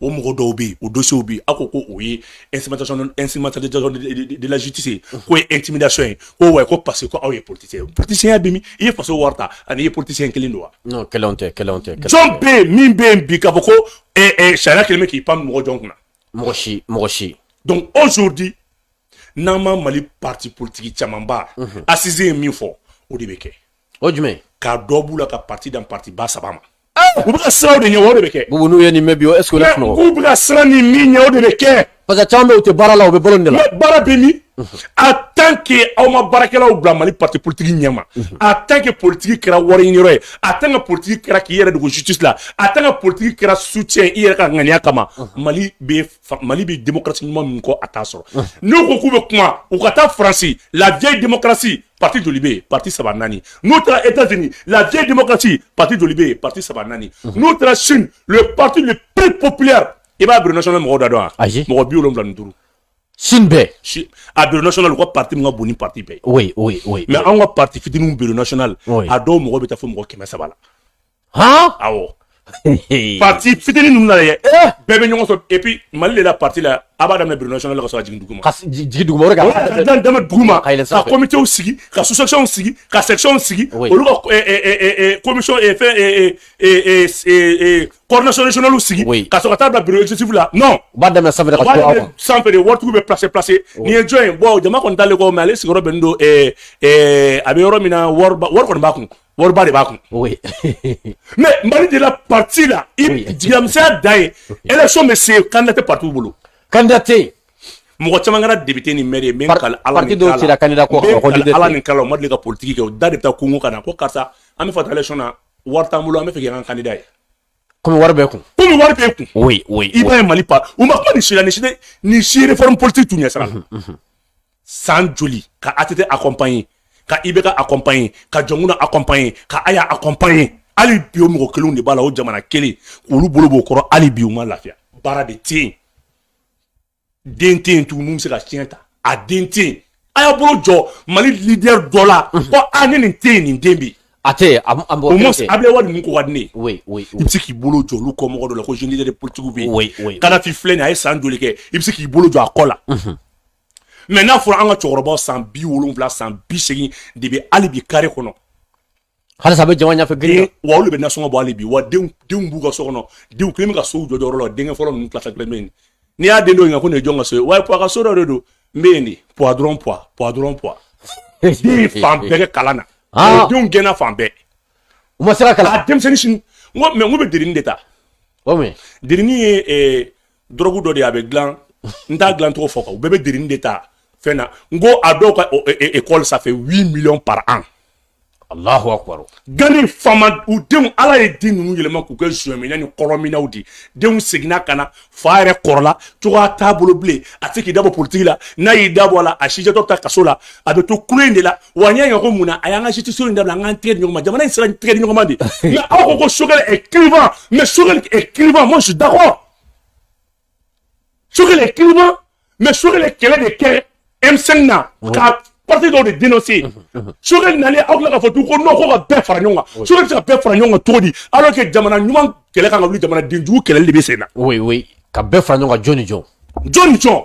o mɔgɔ dɔw bɛ yen o dossierw bɛ yen aw ko ko o ye instrumentation instrumentalisation de la justice ye k'o ye intimidation ye ko wa ko parce que ko aw ye politicien ye politicienya bɛ min i ye faso wari ta ani i ye politicien kelen don wa. non kelen tɛ kelen tɛ. jɔn bɛ yen min bɛ yen bi k'a fɔ ko ɛɛ ɛɛ sariya kelen bɛ k'i pan mɔgɔ jɔn kunna. mɔgɔ si mɔgɔ si. donc aujourd'hui n'an ma mali parti politique camanba assise ye min fɔ o de bɛ kɛ. o jumɛn. ka dɔ b'u la ka parti dan parti ba saba ma. u bɛ ka siran o de ɲɛ o de bɛ kɛ Bubu n'u ye nin mɛn bi o est ce que o la sunɔgɔ k'u bɛ ka siran nin min ɲɛ o de bɛ kɛ parce que caman bɛ yen u tɛ baara la u bɛ balo nin de la baara bɛ min en tant que aw ma baarakɛlaw bila mali parti politique ɲɛma en tant que politique kɛra wari ɲini yɔrɔ ye en tant que politique kɛra k'i yɛrɛ dogo justice la en tant que politique kɛra soutien i yɛrɛ ka ŋaniya kama mali bɛ mali bɛ démocratie ɲuman min kɔ a t'a sɔrɔ n'u ko k'u bɛ kuma u ka taa faransi la vieille démocratie parti joli bɛ yen parti saba naani n'u taara etats unis la vieille démocratie parti joli bɛ yen parti saba naani mhm. n'u taara chine le parti le plus populaire i b'a bureau national mɔgɔw da dɔn wa mɔgɔ bi wolonwula ni duuru chine bɛɛ a bureau national u ka parti min ka bon ni parti bɛɛ ye oui oui oui mais anw ka parti fitininw bureau national a dɔw mɔgɔ bɛ taa fo mɔgɔ kɛmɛ saba la han awɔ parti fitinin ninnu na dɛ eh! bɛɛ bɛ ɲɔgɔn sɔrɔ et puis mali de la parti la a b'a daminɛ bureau national la ka sɔrɔ ka jigin duguma ka jigin duguma o de ka daminɛ duguma ka comités sigi ka sous sections sigi ka sections sigi olu ka commission fɛn coordination régionale sigi ka sɔrɔ ka taa bila bureau exécutif la non u b'a daminɛ sanfɛ de ka to aw kan sanfɛ de waritigiw bɛ placer placer nin ye jɔn ye bon jama kɔni t'ale kɔ mais ale sigiyɔrɔ bɛnnen don a bɛ yɔrɔ min na wari wari kɔni b'a kun wariba de b'a kun mais mali de la pati la jigiyamisɛnya dan ye élection bɛ se kandida tɛ patiw bolo kandida tɛ yen mɔgɔ caman kɛra depite ni mɛri ye min ka ala ni kala ala ni kala o ma deli ka politiki kɛ o da de bɛ taa konkon ka na ko karisa an b'a fɛ ka taa élection na wari t'an bolo an b'a fɛ k'an kandida ye komi wari b'e kun komi wari b'e kun i b'a ye mali pa u ma kuma nin si la nin si la nin si réforme politique tun ɲɛ sira san joli ka ATT accompagner ka IBK accompagner ka Dioncounda accompagner ka Aya accompagner hali bi o mɔgɔ kelenw de b'a la o jamana kelen olu bolo b'o kɔrɔ hali bi u ma lafiya baara de tɛ yen den tɛ yen tugun min bɛ se ka tiɲɛ ta a den tɛ yen a y'a bolo jɔ mali leader dɔ la ko ni nin tɛ yen nin den bɛ yen a tɛ yen au moins Ablaye Wade ninnu ko ka di ne ye oui oui i bɛ se k'i bolo jɔ olu kɔ mɔgɔ dɔ la ko jeune leader politique bɛ yen oui oui Kadhafi filɛ nin ye a ye san joli kɛ i bɛ se k'i bolo jɔ a kɔ la. mais n'a fɔra an ka cɛkɔrɔbaw san bi wolonwula san bi segin de bɛ hali bi kare kɔnɔ halisa a bɛ jama ɲɛfɛ gere wa olu bɛ nasɔngɔ bɔ hali bi wa denw denw b'u ka so kɔnɔ denw kelen bɛ ka sow jɔ yɔrɔ la denkɛ fɔlɔ ninnu tilata kelen bɛ yen n'i y'a den dɔw ɲininka ko nin ye jɔn ka so ye wa puwa ka so dɔ de don n bɛ yen de puwa dɔrɔn puwa puwa dɔrɔn puwa den fan bɛɛ kɛ kalan na ah. denw gɛnna fan bɛɛ u ma se ka kalan a denmisɛnnin sini n ko mais n ko bɛ derini de ta derini ye eh, dɔrɔgu dɔ de a bɛ dilan n t'a dilan cogo fɔ yan u bɛɛ bɛ derin de ta fɛn na n ko a dɔw ka ekɔli ça fait huit millions par an Allahu akbar. Gani faamaw denw ala ye den ninnu yɛlɛma k'u kɛ zuɲɛminna ni dɔlɔminnaw de denw seginna ka na fa yɛrɛ kɔrɔla cogoya t'a bolo bilen a tɛ k'i dabɔ politiki la n'a y'i dabɔ a la a sijɛtɔ bɛ taa kaso la a bɛ to kule in de la wa n y'a ɲɛ ko mun na a y'an ka sitiso in dabila an k'an tɛgɛ di ɲɔgɔn ma jamana in sera tɛgɛ di ɲɔgɔn ma de nka aw ko Choguel est clivant mais Choguel est clivant moi je suis d'accord Choguel est clivant mais Choguel kɛlɛ de kɛ M5 na ka parti dɔw de dénoncer Choguel nalen aw tila k'a fɔ tugun ko non ko ka bɛɛ fara ɲɔgɔn kan Choguel bɛ se ka bɛɛ fara ɲɔgɔn kan cogo di alors que jamana ɲuman kɛlɛ kan ka wuli jamanaden jugu kɛlɛli de bɛ sen na oui oui ka bɛɛ fara ɲɔgɔn kan jɔn ni jɔn jɔn ni jɔn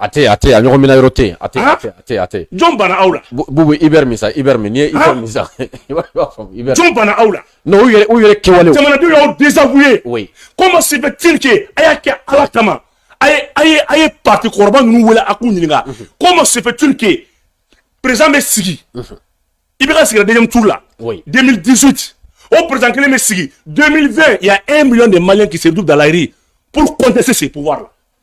A tɛ a tɛ a ɲɔgɔn min yɔrɔ tɛ a tɛ a tɛ jɔn bana aw la bubu i bɛ min sa i bɛ min ye i bɛ min sa jɔn bana aw la yɛrɛ u yɛrɛ kɛwale jamanadenw y'aw dɛsɛbu ye ko ma si bɛ tike a y'a kɛ ala kama a ye a ye a ye pati kɔrɔba ninnu wele a k'u ɲininka ko ma si tike perez bɛ sigi i bɛ ka sigi den tu la den disi o perez kelen bɛ sigi den fɛn yan e mi de ma kise du dalayiri pte se se pu la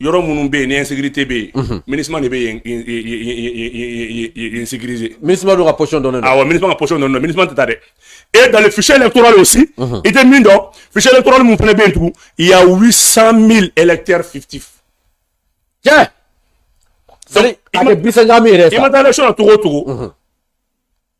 yɔrɔ minnu bɛ yen ni insécurité bɛ yen mhm. MINUSMA de bɛ yen sécuriser MINUSMA dun ka position dɔnnen don awɔ MINUSMA ka position dɔnnen don MINUSMA tɛ taa dɛ et dans le fichier électoral aussi mhm. i tɛ min dɔn fichier électoral min fana bɛ yen tugun il y a 800 000 électeurs fictifs tiɲɛ c'est à dire ba kɛmɛ seegin min yɛrɛ sa i ma taa élection na cogo o cogo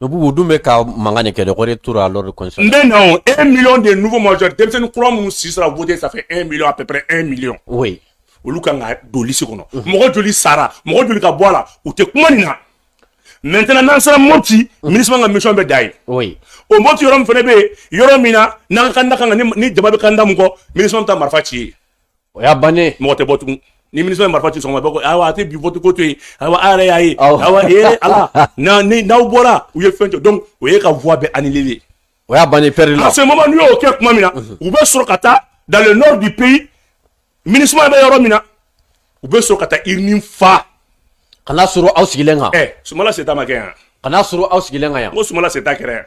Dugu dun bɛ ka mankan de kɛ dɛ, o de tora lors du conseil n bɛ na o 1 million de nouveaux majeurs denmisɛnnin kura minnu si sera voter ça fait 1 million à peu près 1 million, oui, olu ka kan ka don liste kɔnɔ, unhun, mɔgɔ joli sara, mɔgɔ joli ka bɔ a la, u tɛ kuma nin na maintenant n'an sera Mopti, MINUSMA ka mission bɛ dan yen, oui, o Mopti yɔrɔ min fana bɛ yen, yɔrɔ min na n'an ka candidat kan ka ni jama bɛ candidat min kɔ, MINUSMA bɛ taa marifa ci yen. o y'a bannen mɔgɔ tɛ bɔ tugun ni MINUSMA ye marifa ci sɔgɔma bɛɛ ko ayiwa a tɛ bi vote ko to yen ayiwa a yɛrɛ y'a ye ayiwa ee ala na ni n'aw bɔra u ye fɛn jɔ donc o y'e ka voix bɛɛ annuler de o y'a bannen perdre la. en ce moment n'u y'o kɛ tuma min na u bɛ sɔrɔ ka taa dans le nord du pays MINUSMA bɛ yɔrɔ min na u bɛ sɔrɔ ka taa urne fa. ka n'a sɔrɔ aw sigilen kan. ɛ Sumayila Sise ta ma kɛ yan. ka n'a sɔrɔ aw sigilen kan yan. n ko Sumayila Sise ta kɛra yan.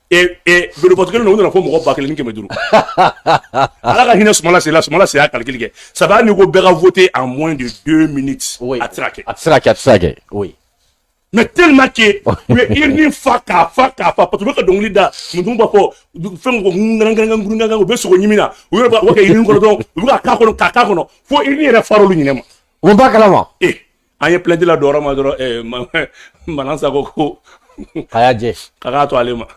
bureau de vote kelen u nana fɔ mɔgɔ ba kelen kɛmɛ duuru ala ka hinɛ Sumayila Sise la Sumayila Sise y'a calcul kɛ sabu n'i ko bɛɛ ka voter en moins de deux minutes a tɛ kɛ a tɛ kɛ a tɛ kɛ oui mais tellement que u ye urne fa k'a fa k'a fa parce qu'olu bɛ ka dɔnkili da musow b'a fɔ fɛn ko ngangangangangangan u bɛ sogo ɲimi na u yɛrɛ b'a kɛ urne kɔnɔ dɔrɔn u bɛ ka k'a kɔnɔ k'a k'a kɔnɔ fo urne yɛrɛ far'olu ɲinɛ ma o b'a kalama ee an ye plainte ladon a ma dɔrɔn eh, ma, Manasa ko a y'a jɛ a k'a to ale ma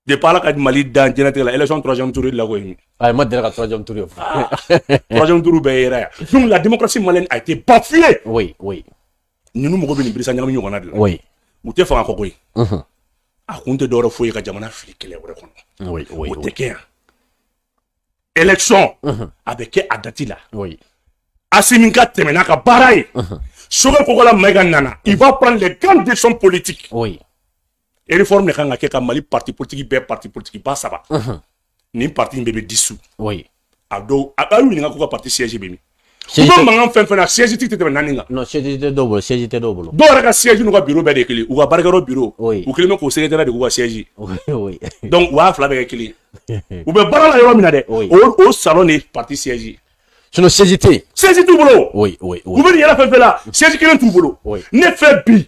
de ala ka mali dan jɛnɛtigɛ la élection troisième tour de la ko ye a ma deli ka troisième tour ye ah, troisième tour bɛɛ yera yan donc la démocratie malienne a été bafouée oui oui ninnu mɔgɔ bɛ nin birisa ɲagami ɲɔgɔnna de la oui u tɛ fanga ko kɔ ye a kun tɛ dɔwɛrɛ fo i ka jamana fili kɛlɛ wɛrɛ kɔnɔ o tɛ kɛ yan élection a bɛ kɛ a dati la asimi ka tɛmɛ n'a ka baara ye Sogɛli Kokala Mayiga nana il va prendre les grandes décisions politiques réforme de kan ka kɛ ka mali parti politique bɛɛ parti politique ba saba nin parti in bɛɛ bɛ dissous a dɔw a y'u ɲininka k'u ka parti siège bɛ min u bɛ mankan fɛn fɛn na siège tigi tɛ tɛmɛ naani kan. non siège tɛ dɔw bolo siège tɛ dɔw bolo. dɔw yɛrɛ ka siège n'u ka bureau bɛɛ de ye kelen u ka baarakɛyɔrɔ bureau. oui u kɛlen bɛ k'o secrétaire de k'u ka siège. oui oui. donc u b'a fila bɛɛ kɛ kelen ye. u bɛ baara la yɔrɔ min na dɛ. oui o o salon de ye parti siège ye. sinon siège tɛ yen. siège t'u bolo. oui oui oui. u bɛ nin yɛrɛ fɛn fɛn la siège kelen t'u bolo. oui ne fɛ bi.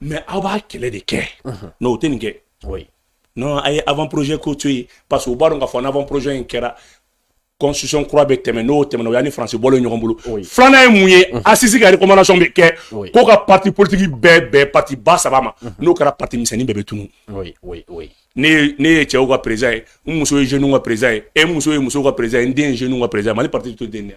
mais aw b'a kɛlɛ de kɛ n'o tɛ nin kɛ non a ye avant projet ko to yen parce que u b'a dɔn k'a fɔ n'avant projet in kɛra constitution kura bɛ tɛmɛ n'o tɛmɛna o y'an ni faransi bɔlen ɲɔgɔn bolo filanan ye mun ye assises ka recommandation bɛ kɛ ko ka parti politique bɛɛ bɛn parti ba saba ma n'o kɛra parti misɛnnin bɛɛ bɛ tunu ne ye cɛw ka président ye n muso ye jeunes ka président ye e muso ye musow ka président ye n den ye jeunes ka président ye mali parti tɛ to ten de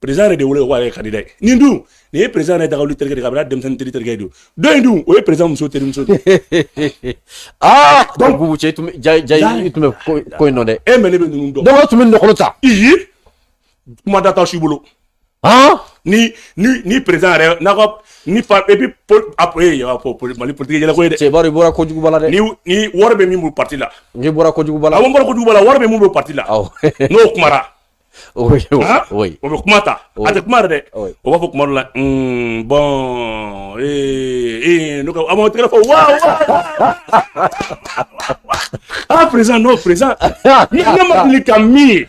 président yɛrɛ de wele ko ale candidat nin dun nin ye président yɛrɛ dagawuli terikɛ de kabini a denmisɛnnin teri terikɛ don dɔ in dun o ye président muso terimuso de aa donc bubu cɛ tun ja ja i tun bɛ ko in dɔn dɛ e mais ne bɛ ninnu dɔn donc o tun bɛ nɔgɔlo ta iyi kuma da t'aw si bolo han ni ni ni président yɛrɛ n'a ka ni pa et puis pol a ee a fɔ poli mali politiki yɛlɛko ye dɛ cɛ bari i bɔra kojuguba la dɛ ni ni wari bɛ min bolo parti la n'i bɔra kojuguba la a ko n bɔra kojuguba la wari bɛ min bolo parti la awɔ n'o kumara o bɛ kuma ta a tɛ kuma dɛ o b'a fɔ kuma la bon ee n'o a tɛgɛ fɔ wa aa président o président ni ne ma deli ka min ye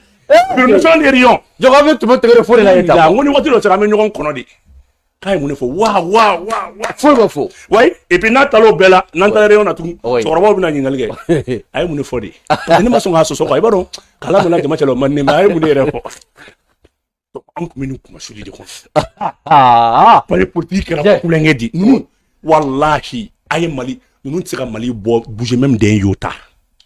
président de jɔ bɛɛ tun bɛ tɛgɛrɛ fɔ de la ko ni waati dɔ sera an bɛ ɲɔgɔn kɔnɔ de k'a ye mun de fɔ wa wa wa wa foyi ma fɔ wayi et puis n'a taara o bɛɛ la n'an taara réunion na tugun cɛkɔrɔbaw bɛna ɲininkali kɛ a ye mun de fɔ de parce que ne ma sɔn k'a sɔsɔ quoi i b'a dɔn k'a lamalo jama cɛ la o man di ne ma a ye mun de yɛrɛ fɔ an tun bɛ nin kumasuli de kɔnɔ mali politiki kɛra tulonkɛ de ye walahi a ye mali ninnu tɛ se ka mali bɔ bouger même d'un iota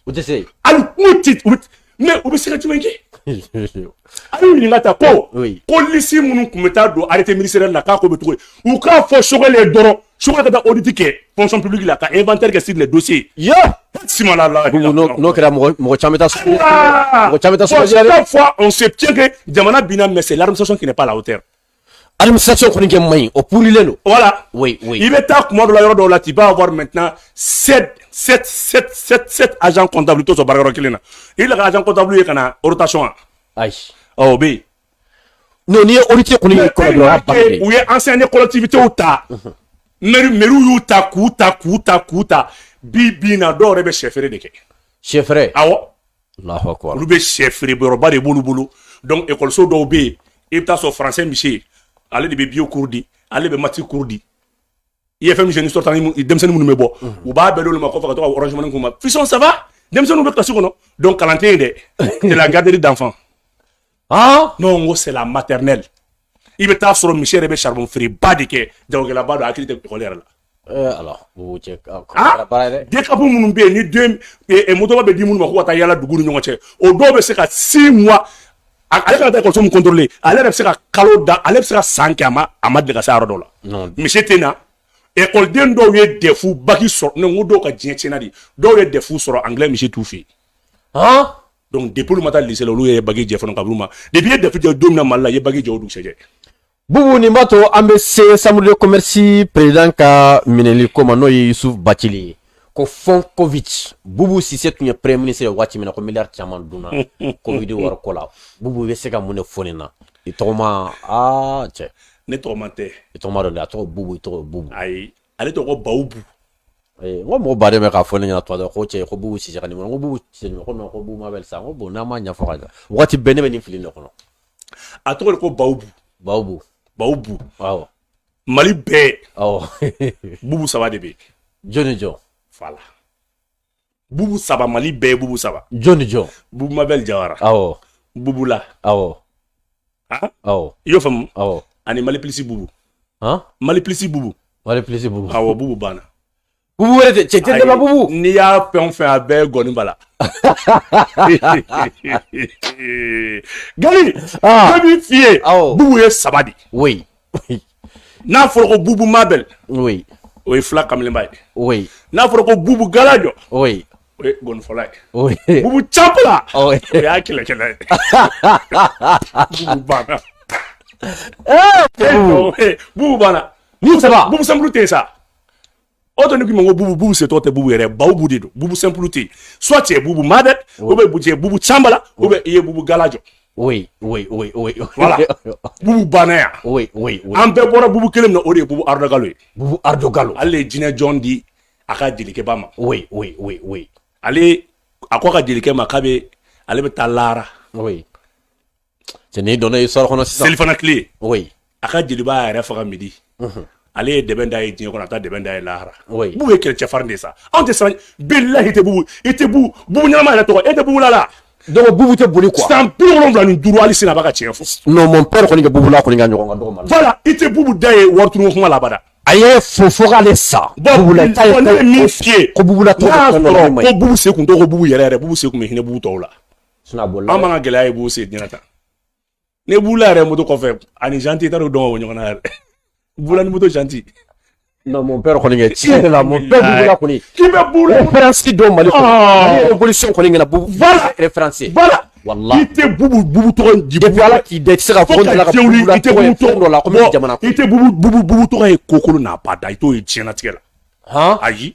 o tɛ se hali n'u tɛ u bɛ mais u bɛ se ka jumɛn kɛ a y'u ɲininka ta ko polisi minnu tun bɛ taa don arrêté ministériel la k'a ko bɛ cogo di u k'a fɔ Choguel ye dɔrɔn Choguel ka taa audit kɛ fonction publique la ka inventaire kɛ sur les dossiers ye simala la n'o kɛra mɔgɔ caman bɛ taa sugu mɔgɔ caman bɛ taa sugu la chaque fois on se plaint que jamana binna mais c'est l'administration qui n'est pas à la hauteur Alimisacɛ kɔni kɛ man ɲi o plen don wala i bɛ taa kuma dɔ la yɔrɔ dɔw la k'i b'a wari mɛt az kɔnɔnta to sɔrɔ bara yɔrɔ kelen na i la az kɔnɔntabu ye ka na otation wa ayi bɛ yen n' ye o cɛ kɔni u ye an san ni kɔlɔtibitew ta mri mriw y'u ta k'u ta k'u ta k'u ta bi bin na dɔw yɛrɛ bɛ shɛfɛɛrɛ de kɛ shɛfɛɛrɛ aw olu bɛ shɛfeereyɔrɔba de b'olu bolo donc ekɔliso dɔw bɛ yen i bɛ taa sɔrɔ faransɛ monsieur ale de bɛ bio cours di ale bɛ mati cours di IFM ni sortant denmisɛnnin minnu bɛ bɔ u b'a bɛɛ olu ma ko ka tɔgɔsumani kun ma fi ça va denmisɛnninw bɛ kilasi kɔnɔ donc kalan tɛ yen dɛ c'est la garderie d'enfants ah non n ko c'est la maternelle i bɛ taa sɔrɔ monsieur yɛrɛ bɛ charbon feereba de kɛ jagokɛlaba don hakili tɛ ekɔli yɛrɛ la eh, ala o cɛ ah, baara ye dɛ DCAP minnu bɛ yen ni den eh, eh, motoba bɛ di minnu ma ko ka taa yala dugu ni ɲɔgɔn cɛ o dɔw bɛ se ka six mois ale kana taa ekɔliso min contrôler ale yɛrɛ bɛ se ka kalo da ale bɛ se ka san kɛ a ma a ma deli ka se yɔrɔ dɔ la monsieur tɛ na ekɔliden dɔw ye dɛfu baki sɔrɔ ne ko dɔw ka diɲɛ tiɲɛna de dɔw ye dɛfu sɔrɔ anglais monsieur t'u fɛ yen donc depuis olu ma taa lycée la olu ye bac jɛ fana ka b'u ma depuis i ye def jɛ don min na mali la i ye bac jɛ o dugusɛjɛ bubu nin b'a to an bɛ se chambre de commerce président ka minɛli ko ma n'o ye yusuf bacili ye ko fonds covid bubu sise tun ye premier ministre ye waati min na ko miliyari caman dunna covid wari ko la bubu bɛ se ka mun de fɔ nin na i tɔgɔma aa cɛ ne tɔgɔma tɛ i tɔgɔma dɔ de a tɔgɔ bubu i tɔgɔ bubu ayi ale tɔgɔ bawubu n ko mɔgɔ baden bɛ k'a fɔ ne ɲɛna tuma dɔ ko cɛ ko bubu sise ka nin kɔnɔ n ko bubu sise ko non ko bubu mabɛl sa n ko bon n'an m'a ɲɛfɔ ka ɲɛ waati bɛɛ ne bɛ nin fili de kɔnɔ a tɔgɔ de ko bawubu bawubu bawubu awɔ mali bɛɛ awɔ bubu saba de bɛ jɔn ni jɔn voilà bubu saba mali bɛɛ ye bubu saba jɔn ni jɔn bubu mabɛl jawara awɔ bubu la awɔ awɔ i y'o faamu awɔ ani mali plus bubu mali plus bubu mali plus bubu awɔ bubu banna bubu wɛrɛ tɛ cɛ tɛ dɛmɛ bubu n'i y'a fɛn o fɛn a bɛɛ gɔni b'a la gali ne b'i f'i ye bubu ye saba de ye n'a fɔra ko bubu mabel o ye fila kamalenba ye n'a fɔra ko bubu galajo o ye gɔnifɔla ye bubu campala o y'a kɛlɛkɛla ye bubu banna bubu banna bubu simple tɛ sa o tɛ ne k'i ma ko bubu bubu sise tɔgɔ tɛ bubu yɛrɛ bawubu de don bubu simple tɛ yen soit tu es bubu mabel ou bien tu es bubu campala ou bien i ye bubu galajo. oui oui oui oui. voilà bubu banna yan. oui oui oui. an bɛɛ bɔra bubu kelen min na o de ye bubu ardo galo ye. bubu ardo galo. ale ye jinɛ jɔn di a ka jelikɛba ma. oui oui oui oui. ale a ko a ka jelikɛ ma k'a bɛ ale bɛ taa lahara. oui. cɛ ne donna histoire kɔnɔ sisan selifana tile oui a ka jeliba yɛrɛ faga midi mhm. ale ye dɛbɛn da ye diɲɛ kɔnɔ a taa dɛbɛn da ye lahara bubu ye kɛlɛcɛ farin de sa anw tɛ siran bilahi tɛ bubu i tɛ bubu bubu ɲɛnama yɛrɛ tɔgɔ e tɛ bubu la la donc bubu tɛ boli quoi san bi wolonwula ni duuru hali sini a b'a ka tiɲɛ fɔ non mon père kɔni ka bubu la kɔni ka ɲɔgɔn ka dɔgɔ ma voilà i tɛ bubu da ye wari tunu kuma la abada a ye fo fo k'ale sa bubu la ta ye ko min f'i ye ko bubu la tɔgɔ ko bubu se kun tɔgɔ ko bubu yɛrɛ yɛrɛ bubu se kun bɛ hinɛ bubu tɔw la a m'an ka gɛlɛya ye bubu se diɲɛ ta ne bubu la yɛrɛ moto kɔfɛ ani janti taara dɔn o ɲɔgɔn na yɛrɛ bubu la ni moto janti non mon père kɔni kɛ tiɲɛ de la mon père bubu la kɔni k'i bɛ bubu la référence dɔn mali kɔnɔ mali révolution kɔni kɛra bubu voilà référence voilà walahi i tɛ bubu bubu tɔgɔ in di depuis ala k'i da i tɛ se ka fɔ ko dala ka bubu la tɔgɔ ye fɛn dɔ la ko bɛ jamana kɔnɔ i tɛ bubu bubu bubu tɔgɔ ye kokolo n'a ba da i t'o ye diɲɛlatigɛ la han ayi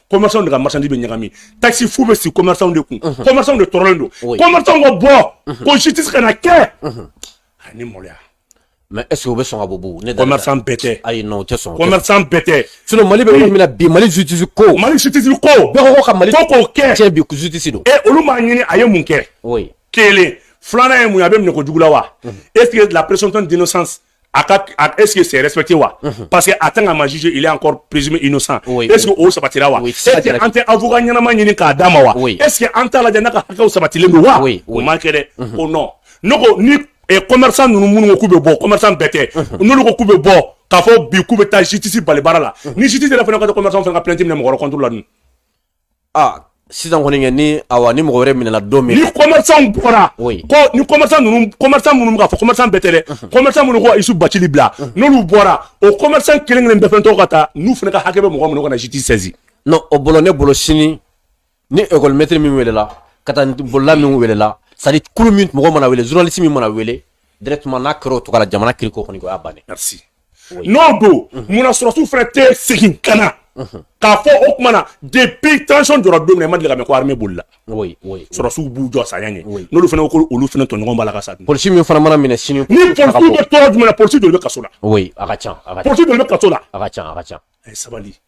commerçants de ka marchandise bɛ ɲagami taxe fu bɛ sigi commerçants de kun commerçants de tɔɔrɔlen don commerçants ka bɔ ko justice kana kɛ ani maloya mais est ce que o bɛ sɔn ka bɔ bubu ne commerçant bɛɛ tɛ ayi non o tɛ sɔn commerçant bɛɛ tɛ sinon mali bɛ yɔrɔ min na bi mali justice ko mali justice ko bɛɛ ko ka mali ko k'o kɛ tiɲɛ bi justice don e olu m'a ɲini a ye mun kɛ kelen filanan ye mun ye a bɛ minɛ ko jugu la wa est ce que la présomption d'innocence a ka est-ce que c'est respecté wa mhm. parce que a tant qu'a ma jugé il est encore présumé innocent oui, est-ce oui. que o sabatira wa oui, est-ce que an tɛ avocat ɲɛnama ɲini k'a d'a ma wa oui. est-ce que an t'a lajɛ n'a ka hakɛw sabatilen don wa oui, oui. o ma kɛ dɛ mm -hmm. o non ne ko ni eh, commerçant ninnu minnu ko k'u bɛ bɔ commerçant bɛɛ tɛ mhm. n'olu ko k'u bɛ bɔ k'a fɔ bi k'u bɛ taa justice bali baara la mhm. ni justice yɛrɛ fana ka taa commerçant fana ka plainte minɛ mɔgɔ wɛrɛ contre la dun aa sisan kɔni kɛ ni awa ni mɔgɔ wɛrɛ minɛna don min ni commerçant bɔra oui. ko ni commerçant ninnu commerçant minnu bɛ k'a fɔ commerçant bɛɛ tɛ dɛ commerçant minnu ko youssouf bathily bila n'olu bɔra o commerçant kelen kelen bɛɛ fɛn tɔgɔ ka taa n'u fana ka hakɛ bɛ mɔgɔ minnu ka na justice saisi non o bolo ne bolo sini ni école maître min welela ka taa bolola min welela c'est à dire kulu min mɔgɔ mana wele journaliste min mana wele directement n'a kɛra o tɔgɔ la jamana kiriko kɔni o y'a bannen merci n'o don munna sɔrɔsiw fana tɛ segin ka na k'a fɔ o tuma na depuis transition jɔra don min na i ma deli ka mɛn ko armée bolila sɔrɔsiw b'u jɔ saya ɲɛ n'olu fana ko olu fana tɔɲɔgɔn b'a la ka sa polisi min fana mana minɛ sini ni polisiw bɛ tɔɔrɔ jumɛn na polisi joli bɛ kaso la a ka ca polisi joli bɛ kaso la a ka ca a ka ca a ye sabali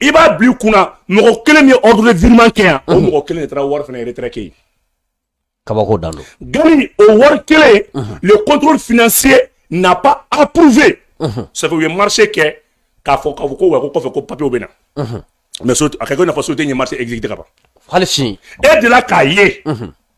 i b'a bil'i kun na mɔgɔ kelen min ye ordre de virement kɛ yan o mɔgɔ kelen de taara wari fana retrait kɛ kabako dan don gani o wari kelen le contrôle financier n'a pas approuvé ça fait u ye marché kɛ k'a fɔ k'a fɔ ko wa ko kɔfɛ ko papierw bɛ na mais so a kɛ ko i n'a fɔ société in ye marché exécuté ka ban hali sini e delila k'a ye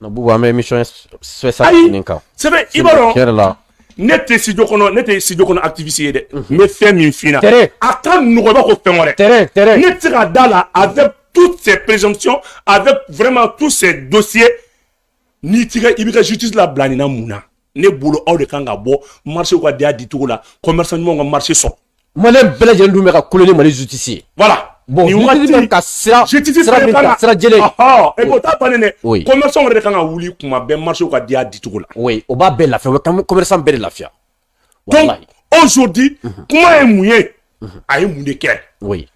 Nka bubu an bɛ émission ayi c'est vrai i b'a dɔn tiɲɛ yɛrɛ la ne tɛ studio kɔnɔ ne tɛ studio kɔnɔ activiste ye dɛ n bɛ fɛn min f'i ɲɛna tere a ka nɔgɔn i b'a fɔ fɛn wɛrɛ tere tere ne tɛ se ka d'a la avec toutes ces présomptions avec vraiment tous ces dossiers n'i t'i ka i b'i ka justice labila nin na mun na ne bolo aw de kan ka bɔ marchéw ka di a di cogo la commerçant ɲumanw ka marché sɔrɔ maliyɛn bɛɛ lajɛlen dun bɛ ka kule ni mali justice ye voilà bon justice bɛ ka sira sira min ta sira jɛlen e b'o ta bannen dɛ commerçant yɛrɛ de kan ka wuli kuma bɛɛ marchéw ka di a di cogo la oui o b'a bɛɛ lafiya o bɛ commerçant bɛɛ de lafiya donc aujourd'hui kuma ye mun ye a ye mun de kɛ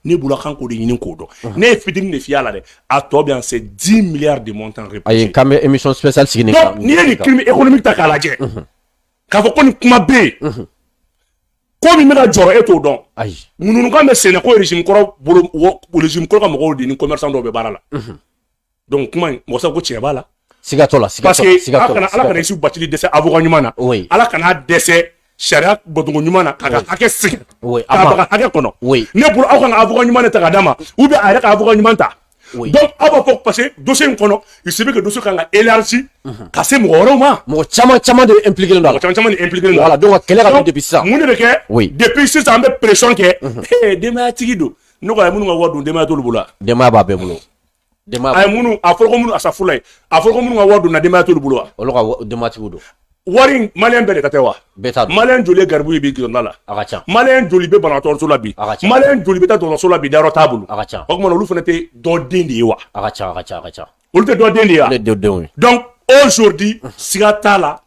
ne bolo k'an k'o de ɲini k'o dɔn ne ye fitini de f'i y'a la dɛ a tɔ bɛ yan c'est dix milliards de montant ayi k'an bɛ émission spéciale sigi n'i ye nin crime économique ta k'a lajɛ k'a fɔ ko nin kuma bɛ yen ko min bɛ ka jɔrɔ e t'o dɔn ayi ŋunuŋunukan bɛ sen na ko régime kɔrɔ régime kɔrɔ ka mɔgɔw de ni commerçant dɔw bɛ baara la donc kuma in mɔgɔ sago ko tiɲɛ b'a la siga t'o la parce que ala kana ala kana isu batili dɛsɛ avocat ɲuman na ala kana dɛsɛ sariya bɔcogo ɲuman na k'a ka hakɛ sigi k'a baga hakɛ kɔnɔ ne bolo aw kan ka avocat ɲuman de ta k'a d'a ma ou bien a yɛrɛ ka avocat ɲuman ta Oui. Donc, aw b'a fɔ parce que dossier in kɔnɔ il se peut que dossier kan ka élargi ka se mɔgɔ wɛrɛw ma mɔgɔ caman caman de impliqué len don mɔgɔ caman caman de impliqué len don voilà donc ka kɛlɛ ka don depuis sisan mun de bɛ kɛ oui depuis sisan an bɛ pression kɛ denbayatigi don ne ko a ye minnu ka wari dun denbaya t'olu bolo wa denbaya b'a bɛɛ bolo a ye minnu a fɔra ko minnu asafurulayi a fɔra ko minnu ka wari dunna denbaya t'olu bolo wa olu ka denbatigiw don wari maliyɛn bɛɛ de ka tɛ wa bɛɛ t'a dɔn maliyɛn joli ye garibu ye bi gidɔrɔn da la a ka ca maliyɛn joli bɛ banabagatɔso la bi a ka ca maliyɛn joli bɛ taa dɔgɔtɔrɔso la bi dayɔrɔ t'a bolo a ka ca o tuma na olu fana tɛ dɔ den de ye wa a ka ca a ka ca a ka ca olu tɛ dɔ den de ye wa ne denw ye donc aujourd'hui siga t'a la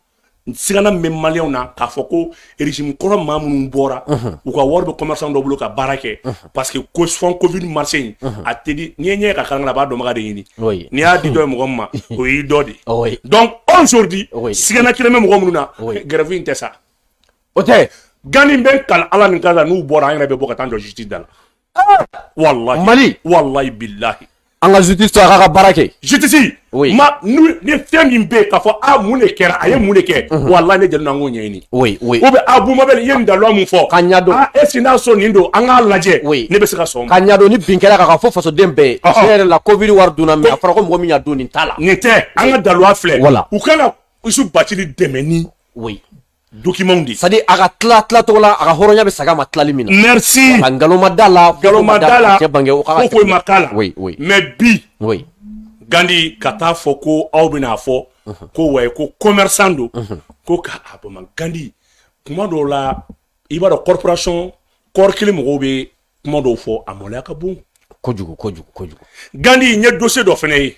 n sigana min bɛ maliyɛnw na k'a fɔ ko régime kɔrɔ maa minnu bɔra u ka wari bɛ commerçant dɔ bolo ka baara kɛ parce que ko fonds covid marché in a tɛ di n'i ye ɲɛ ka kalan a b'a dɔnbaga de ɲini n'i y'a di dɔ ye mɔgɔ min ma o y'i dɔ de ye donc aujourd'hui sigana kelen bɛ mɔgɔ minnu na grève in tɛ sa o tɛ gani bɛ kalan ala ni kan n'u bɔra an yɛrɛ bɛ bɔ ka taa jɔ justice da la Walayi mali walayi bilahi an ka justice to a k'a ka baara kɛ justice ma ni fɛn min bɛ yen k'a fɔ a mun de kɛra a ye mun de kɛ walayi ne jɛnna an k'o ɲɛɲini ou bien a bubu mabɛl i ye nin daluya min fɔ ka ɲɛdɔn est-ce que n'a sɔn nin don an k'a lajɛ ne bɛ se ka sɔn ka ɲɛdɔn ni bin kɛra ka fɔ fasoden bɛɛ ye tiɲɛ yɛrɛ la covid wari dunna mais a fɔra ko mɔgɔ min y'a dun nin t'a la nin tɛ an ka daluya filɛ wala u ka na isu batili dɛmɛ ni documents de c'est-à-dire a ka tila tila cogo la a ka hɔrɔnya bɛ sag'a ma tilali min na merci a nkalon ma d'a la nkalon ma d'a la cɛ bange o ka ko ko ma k'a la oui oui mais bi oui gandi ka taa fɔ ko aw bɛna fɔ ko wayi ko commerçant don ko ka a bama gandi kuma dɔw la i b'a dɔn corporation kɔɔri kelen mɔgɔw bɛ kuma dɔw fɔ a maloya ka bon kojugu kojugu kojugu gandi n ye dossier dɔ fana ye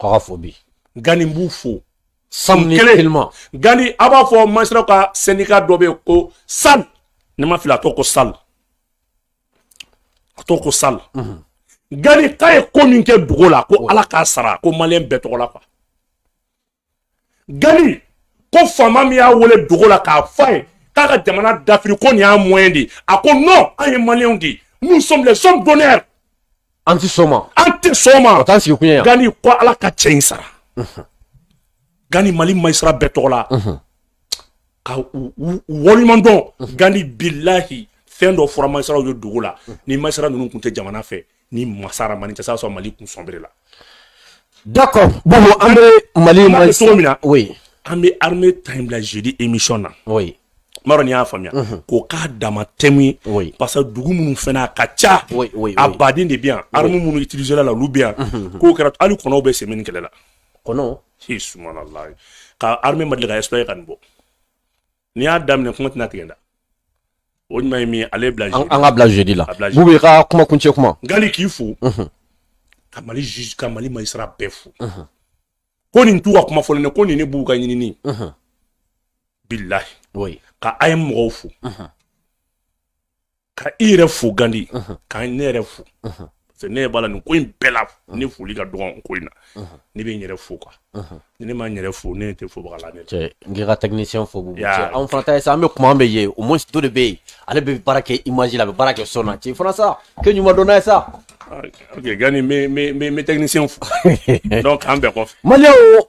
tɔgɔ fɔ bi gani b'u fo san kelen gani a b'a fɔ magistratw ka syndicat dɔ bɛ ko sal ne ma fili a tɔgɔ ko sal a tɔgɔ ko sal mhm. gani k'a ye ko min kɛ dogo la ko ala k'a sara ko maliyɛn bɛɛ tɔgɔ la quoi gani ko faama min y'a wele dogo la k'a fɔ a ye k'a ka jamana dafiri ko nin y'a moyen di a ko non an ye maliyɛnw de ye nous sommes les hommes d'honneur an ti sɔn ma an tɛ sɔn o ma t'an sigikun ye yan gani ko ala ka cɛ in sara gani mali magistrat bɛɛ tɔgɔ la ka u- u- u waleɲuman dɔn gani bilahi fɛn dɔ fɔra magistratw ye dogo la ni magistrat ninnu tun tɛ jamana fɛ ni masara mani tɛ sɔrɔ mali kun sɔnbere la d'accord bon an bɛ mali ma cogo min na oui an bɛ armée ta in bila jeudi émission na oui m'a dɔn ni y'a faamuya mhm. k'o k'a dama tɛmu ye parce que dugu minnu fana a ka ca a baden de bɛ yan arme minnu utiliser la olu bɛ yan mhm. k'o kɛra hali kɔnɔw bɛ semaine kɛlɛ la kɔnɔ subhanallahi ka arme ma deli ka exploiter ka nin bɔ n'i y'a daminɛ kuma tɛna tigɛ dɛ o ɲuman ye min ye ale bila an ka bila jeudi la bubu i ka kuma kuncɛ kuma ngali k'i fo ka mali juge ka mali magistrat bɛɛ fo ko nin t'u ka kuma fɔlen dɛ ko nin ne b'u ka ɲinini bilahi ka a ye mɔgɔw fo ka i yɛrɛ fo gandi ka ne yɛrɛ fo parce ne b'a la nin ko in bɛɛ la ne foli ka dɔgɔn ko in na ne bɛ n yɛrɛ fo quoi ni ne ma n yɛrɛ fo ne tɛ fobaga la ne cɛ n k'i ka technicien fo bubu cɛ anw fana t'a ye sa an bɛ kuma an bɛ ye au moins dɔ de bɛ yen ale bɛ baara kɛ image la a bɛ baara kɛ son na cɛ fana sa kɛ ɲuman dɔn a ye sa ok gandi n bɛ technicien fo donc an bɛɛ kɔfɛ malien o